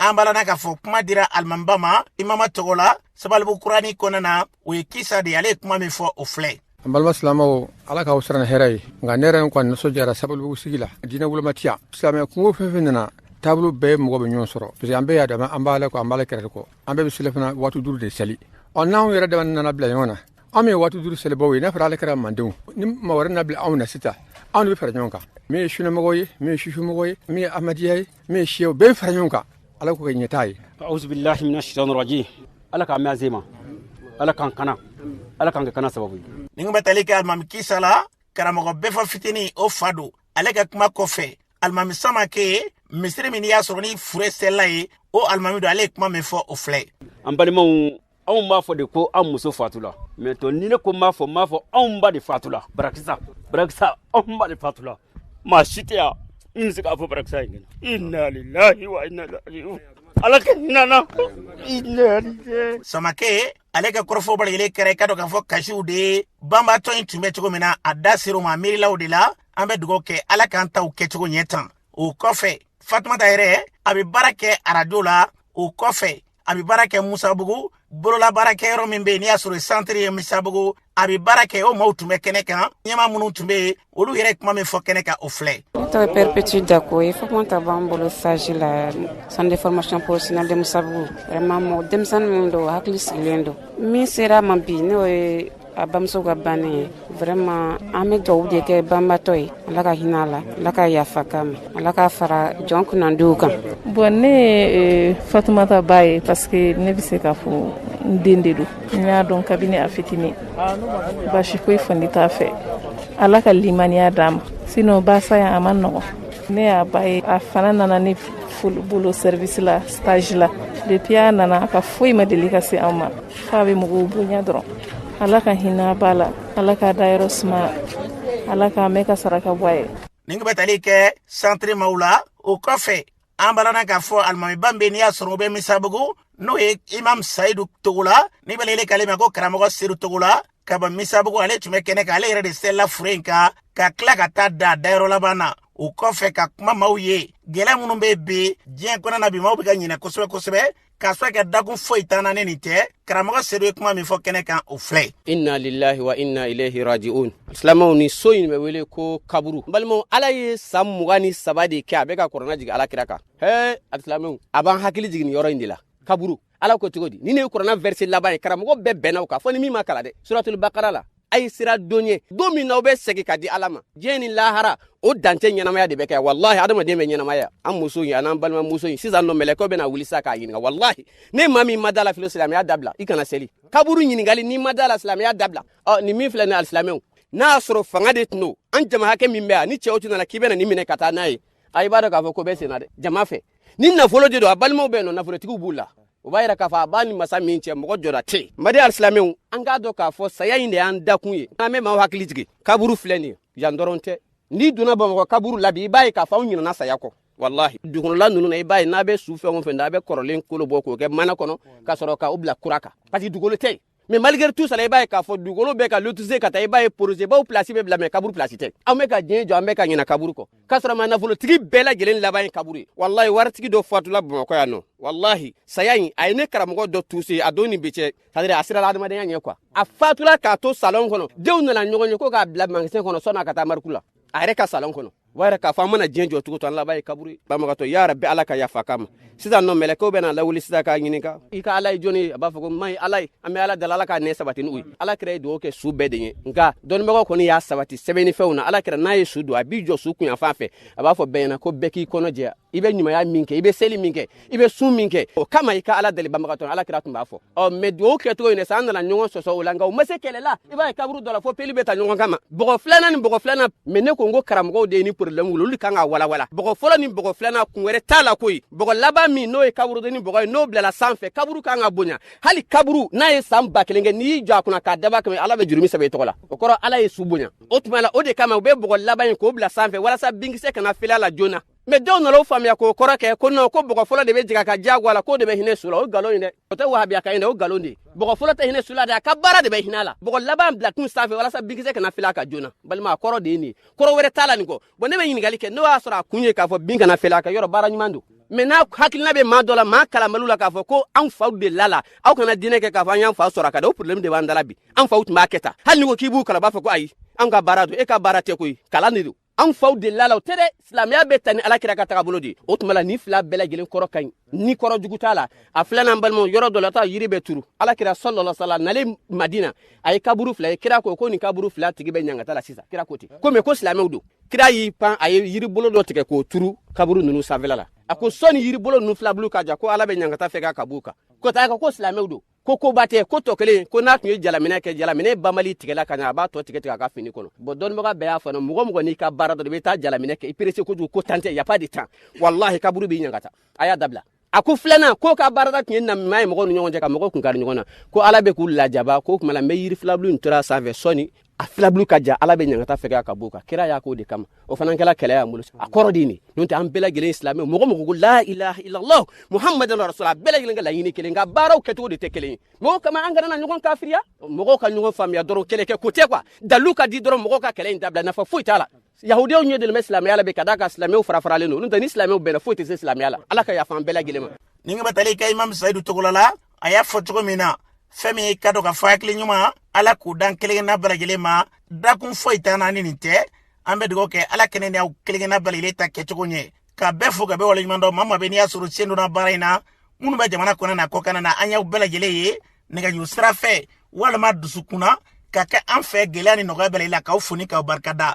an balana k'a fɔ kuma dira alimamiba ma imama tɔgɔ la sabalibugu kurani kɔnɔna na o ye kisa de ale ye kuma min fɔ o filɛ an balima silamaw ala k'aw sara ni hɛrɛ ye nka ne yɛrɛ n kɔni nisɔndiyara sabalibugu sigi la diinɛ woloma tɛ yan silamɛ kunko fɛn fɛn nana taabolo bɛɛ mɔgɔ bɛ ɲɔgɔn sɔrɔ parce que an bɛɛ y'a dama an b'ala kɔ an b'ala kira fana kɔ an bɛɛ bɛ seli fana waati duuru de seli ɔ n'anw yɛrɛ dama nana bila ɲɔgɔn na an min ye waati duuru selibaw ye n'a fɔra ale kɛra mandenw ni maa wɛrɛ na bila anw na sisan anw de bɛ fara ɲɔgɔn kan min ye sunamɔgɔ ye min ye sufimɔgɔ ye min ye amadiya ye min ye siyaw bɛɛ fara ɲɔgɔn kan ala k'o kɛ ɲɛtaa ye auzubillahi mina shaitani rajim ala k'a mɛn azema ala k'an kana ala k'an kɛ kana sababu ye nin tun bɛ tali kɛ alimami kisa la karamɔgɔ bɛfɔ fitini o fa don ale ka kuma kɔfɛ alimami samake misiri min n'i y'a sɔrɔ ni fure selila yen o alimami don ale ye kuma min fɔ o filɛ an balimaw anw b'a fɔ de ko an muso fatula mais to ni ne ko m'a fɔ m'a fɔ anw ba de fatula barakisa barakisa anw ba de fatula maa si tɛ yan n bɛ se k'a fɔ barakisa in kɛnɛ inna lillahi wa inna ilaihi ala ka hinɛ a la inna lillahi samake ale ka kɔrɔfɔ bɛɛ lajɛlen kɛra i ka dɔn k'a fɔ kasiw de ye banbaatɔ in tun bɛ cogo min na a da ser'o ma miirilaw de la an bɛ dugawu kɛ ala k'an taw kɛcogo ɲɛ tan o kɔfɛ fatumata yɛrɛ a bɛ baara kɛ arajo la o kɔfɛ a bɛ baara kɛ musabugu bololabaarakɛyɔrɔ min bɛ yen n'i y'a sɔrɔ centre ye musabugu a bɛ baara kɛ o maaw tun bɛ kɛnɛ kan ɲɛma minnu tun bɛ yen olu yɛrɛ kuma min fɔ kɛnɛ kan o filɛ ne tɔgɔ perpétue dako ye fatumata b'an bolo stage la centre de formation professionnelle de musabugu vraiment mɔgɔ denmisɛnnin minnu don hakili sigilen don min sera ma bi n'o ye a bamuso ka banni ye vraiment an bɛ dugawu de kɛ banbatɔ ye ala ka hinɛ a la ala ka yafa k'a ma ala k'a fara jɔn kunnandiw kan bon ne ye fatumata ba ye parce que ne bɛ se k'a fɔ n den de don n y'a dɔn kabini a fitini basi foyi fandi t'a fɛ ala ka limaniya d'a ma sinon ba saya in a man nɔgɔn ne y'a ba ye a fana nana ne bolo service la stage la depuis a nana a ka foyi ma deli ka se an ma f'a bɛ mɔgɔw bonya dɔrɔn ala ka hinɛ ba la ala k'a dayɔrɔ suma ala k'a mɛɛn ka saraka bɔ a ye nin tun bɛ tali kɛ centre maw la o kɔfɛ an balana k'a fɔ alimamiba min bɛ n'i y'a sɔrɔ o bɛ misabugu n'o ye imam sayidu togola ni bɛɛ lajɛlen k'ale ma ko karamɔgɔ sedu togola ka bɔ misabugu ale tun bɛ kɛnɛ kan ale yɛrɛ de selila fure in kan ka tila ka taa da dayɔrɔ laban na o kɔfɛ ka kuma maw ye gɛlɛya minnu bɛ bi diɲɛ kɔnɔ na bi maaw bɛ ka ɲinɛ kosɛbɛ kosɛbɛ k'a sɔrɔ ka dakun foyi t'an na ni nin tɛ karamɔgɔ sedu ye kuma min fɔ kɛnɛ kan o filɛ inna lillahi wa inna ilaihi rajiun silamɛw nin so in bɛ wele ko kaburu n balimaw ala ye san mugan ni saba de kɛ a bɛ ka kurana jigin ala kira kan he alisilamɛw a b'an hakili jigin nin yɔrɔ in de la kaburu ala ko cogo di nin de ye kurana verset laban ye karamɔgɔ bɛɛ bɛnna o kan fɔ ni min ma kalan dɛ suratul bakara la a ye siran don ɲɛ don min na aw bɛ segin ka di ala ma diɲɛ ni lahara o dan tɛ ɲɛnamaya de bɛ kɛ walahi adamaden bɛ ɲɛnamaya an muso in an an balimamuso in sisan nɔ mɛlɛkɛw bɛn'a wuli sa k'a ɲininka walahi ni maa min ma da a la filo silamɛya dabila i kana seli kaburu ɲininkali n'i ma da a la silamɛya dabila ɔ nin min filɛ nin alisilamɛw n'a y'a sɔrɔ fanga de tun don an jama hakɛ min bɛ yan ni cɛw tun nana k'i bɛna nin minɛ ka taa n'a ye a i b'a dɔn k'a fɔ ko bɛ senna dɛ jama fɛ ni nafolo de don a balimaw bɛ nɔ nafolotigiw b'u la o b'a yira k'a fɔ a b'a ni masa min cɛ mɔgɔ jɔda tɛ yen madi alisilamɛw an k'a dɔn k'a fɔ saya in de y'an dakun ye an bɛ maaw hakili jigin kaburu filɛ nin ye yan dɔrɔn tɛ n'i donna bamakɔ kaburu la bi i b'a ye k'a fɔ anw ɲinana saya kɔ walahi dugukɔnɔla ninnu na i b'a ye n'a bɛ su fɛn o fɛn da a bɛ kɔrɔlen kolo bɔ k'o kɛ mana kɔnɔ ka sɔrɔ k'o bila kura kan parce que dugukolo tɛ yen mais malgré tout cela i b'a ye k'a fɔ dugukolo bɛ ka lotise ka taa i b'a ye projet baw place bɛ bila mais kaburu place tɛ an bɛ ka diɲɛ jɔ an bɛ ka ɲina kaburu kɔ k'a sɔrɔ ma nafolotigi bɛɛ lajɛlen laban ye kaburu ye walahi waritigi dɔ fatula bamakɔ yan nɔ walahi saya in a ye ne karamɔgɔ dɔ touché a don ni bi cɛ c'est-à-dire a sirala adamadenya ɲɛ quoi a fatula k'a to salon kɔnɔ denw nana ɲɔgɔn ye ko k'a bila magasin kɔnɔ san'a ka taa morgue la a yɛrɛ ka salon kɔnɔ o b'a yira k'a fɔ an mana diɲɛ jɔ cogo o cogo an laban ye kaburu ye banbagatɔ ya rabi ala ka yafa k'a ma sisan nɔ mɛlɛkɛw bɛn'a lawuli sisan k'a ɲininka i ka ala ye jɔni ye a b'a fɔ ko n maa ye ala ye an bɛ ala deli ala k'a nɛn sabati n'o ye ala kira ye dugawu kɛ su bɛɛ de ye nka dɔnnibagaw kɔni y'a sabati sɛbɛnni fɛnw na ala kira n'a ye su don a b'i jɔ su kun yanfan fɛ a b'a fɔ bɛɛ ɲɛ na ko bɛɛ k'i kɔnɔ jɛya i bɛ ɲumanya min kɛ i bɛ seli min kɛ i bɛ sun min kɛ o kama i ka ala deli banbagatɔ ala kira tun b'a fɔ ɔ mɛ dugawu kɛcogo in sa an nana ɲɔgɔn sɔsɔ o la nka o ma se kɛlɛ la i b'a ye kaburu dɔ la fo peli bɛ ta ɲɔgɔn kama bɔgɔ filanan ni bɔgɔ filanan mɛ ne ko n ko karamɔgɔw de ye nin porobilɛmu wuli olu kan ka walawala bɔgɔ fɔlɔ ni bɔgɔ filanan kun wɛrɛ t'a la koyi bɔgɔ laban min n'o ye kaburudenni bɔgɔ ye n'o bilala sanfɛ kaburu kan ka bonya hali kaburu n'a ye san ba kelen kɛ n'i y'i jɔ a kunna k'a daba kɛmɛ ala bɛ jurumu sɛbɛn i tɔgɔ la o kɔrɔ ala ye su bonya o tuma la o de kama u bɛ bɔgɔ laban in k'o bila sanfɛ walasa binkisɛ kana falen a la joona mɛ dɔw nana o faamuya k'o kɔrɔ kɛ ko non ko bɔgɔ fɔlɔ de bɛ jigin ka jago a la k'o de bɛ hinɛ su la o nkalon ye dɛ o tɛ wahabiyakan ye dɛ o nkalon de ye bɔgɔ fɔlɔ tɛ hinɛ su la dɛ a ka baara de bɛ hinɛ a la bɔgɔ laban bila kun sanfɛ walasa binkisɛ kana falen a kan joona balima a kɔrɔ de ye nin ye kɔrɔ wɛrɛ t'a la nin kɔ bon ne bɛ ɲininkali kɛ n'o y'a sɔrɔ a kun ye k'a fɔ bin kana falen a kan yɔrɔ baara ɲuman don mɛ n'a hakilina bɛ maa dɔ la maa kalanbaliw la k'a fɔ ko anw faw delila a la aw kana diinɛ kɛ k'a fɔ an y'an fa sɔrɔ a kan dɛ o problème de b'an da la bi an faw tun b'a kɛ tan hali ni ko k'i b'u kalan b'a fɔ ko ayi an ka baara don e ka baara tɛ koyi kalan de don anw faw delila a la o tɛ dɛ silamɛya bɛ taa ni alakira ka tagabolo de ye o tuma la nin fila bɛɛ lajɛlen kɔrɔ ka ɲi ni kɔrɔ jugu t'a la a filanan balimaw yɔrɔ dɔ la taa yiri bɛ turu ala kira sallallahu alaihi wasallam nalen madina a ye kaburu fila ye kira ko ko nin kaburu fila tigi bɛ ɲangata la sisan kira ko ten ko mɛ ko silamɛw don kira y'i pan a ye yiribolo dɔ tigɛ k'o turu kaburu ninnu sanfɛla la a ko sɔni yiribolo ninnu filabulu ka ja ko ala bɛ ɲangata fɛgɛya ka b'u kan ko taa ko silamɛw don ko koba tɛ ko tɔ kelen ko n'a tun ye jalaminɛ kɛ jalaminɛ banbali tigɛla ka ɲa a b'a tɔ tigɛ tigɛ a ka fini kɔnɔ bon dɔnnibaga bɛɛ y'a fɔ mɔgɔ mɔgɔ n'i ka baara don i bɛ taa jalaminɛ kɛ i perese kojugu ko temps tɛ y a pas de temps walahi kaburu b'i ɲangata a y'a dabila a ko filanan k'o ka baara de tun ye namima ye mɔgɔw ni ɲɔgɔn cɛ ka mɔgɔw kun kari ɲɔgɔn na ko ala bɛ k'u lajaba k'o tuma la n bɛ yiri filabulu in turu a sanfɛ sɔni a filabulu ka ja ala bɛ ɲangata fɛgɛya ka b'o kan kira y'a k'o de kama o fana kɛla kɛlɛ y'an bolo a kɔrɔ de nin n'o tɛ an bɛɛ lajɛlen silamɛ mɔgɔ mɔgɔ ko la ilaha illallah muhammadan rasulullah bɛɛ lajɛlen ka laɲini kelen nka baaraw kɛcogo de tɛ kelen ye mɔgɔw kama an kana na ɲɔgɔn kafiriya mɔgɔw ka ɲɔgɔn faamuya dɔrɔn kɛlɛ kɛ ko tɛ quoi dalilu ka di dɔrɔn mɔgɔw ka kɛlɛ in dabila nafa foyi t'a la yahudiyaw ɲɛ dalen bɛ silamɛya la bi ka d'a kan silamɛw fara faralen don n'o tɛ ni silamɛw bɛnna foyi tɛ se silamɛya la ala ka yafa an bɛɛ lajɛlen ma ni ka batali kɛ imam sayidu togola la a y'a fɔ cogo min na fɛn min ka dɔ ka fɔ hakili ɲuman ala k'o d'an kelenkelenna bɛɛ lajɛlen ma dakun foyi t'an na ni nin tɛ an bɛ dugawu kɛ ala ka ne ni aw kelenkelenna bɛɛ lajɛlen ta kɛcogo ɲɛ ka bɛɛ fo ka bɛɛ waleɲuman dɔn maa maa bɛ n'i y'a sɔrɔ sen donna baara in na minnu bɛ jamana kɔnɔ n'a kɔkanna an y'aw bɛɛ lajɛlen ye nɛgɛjuru sira fɛ walima dusukun na ka kɛ an fɛ gɛlɛya ni nɔgɔya bɛɛ la k'aw fo ni k'aw barika da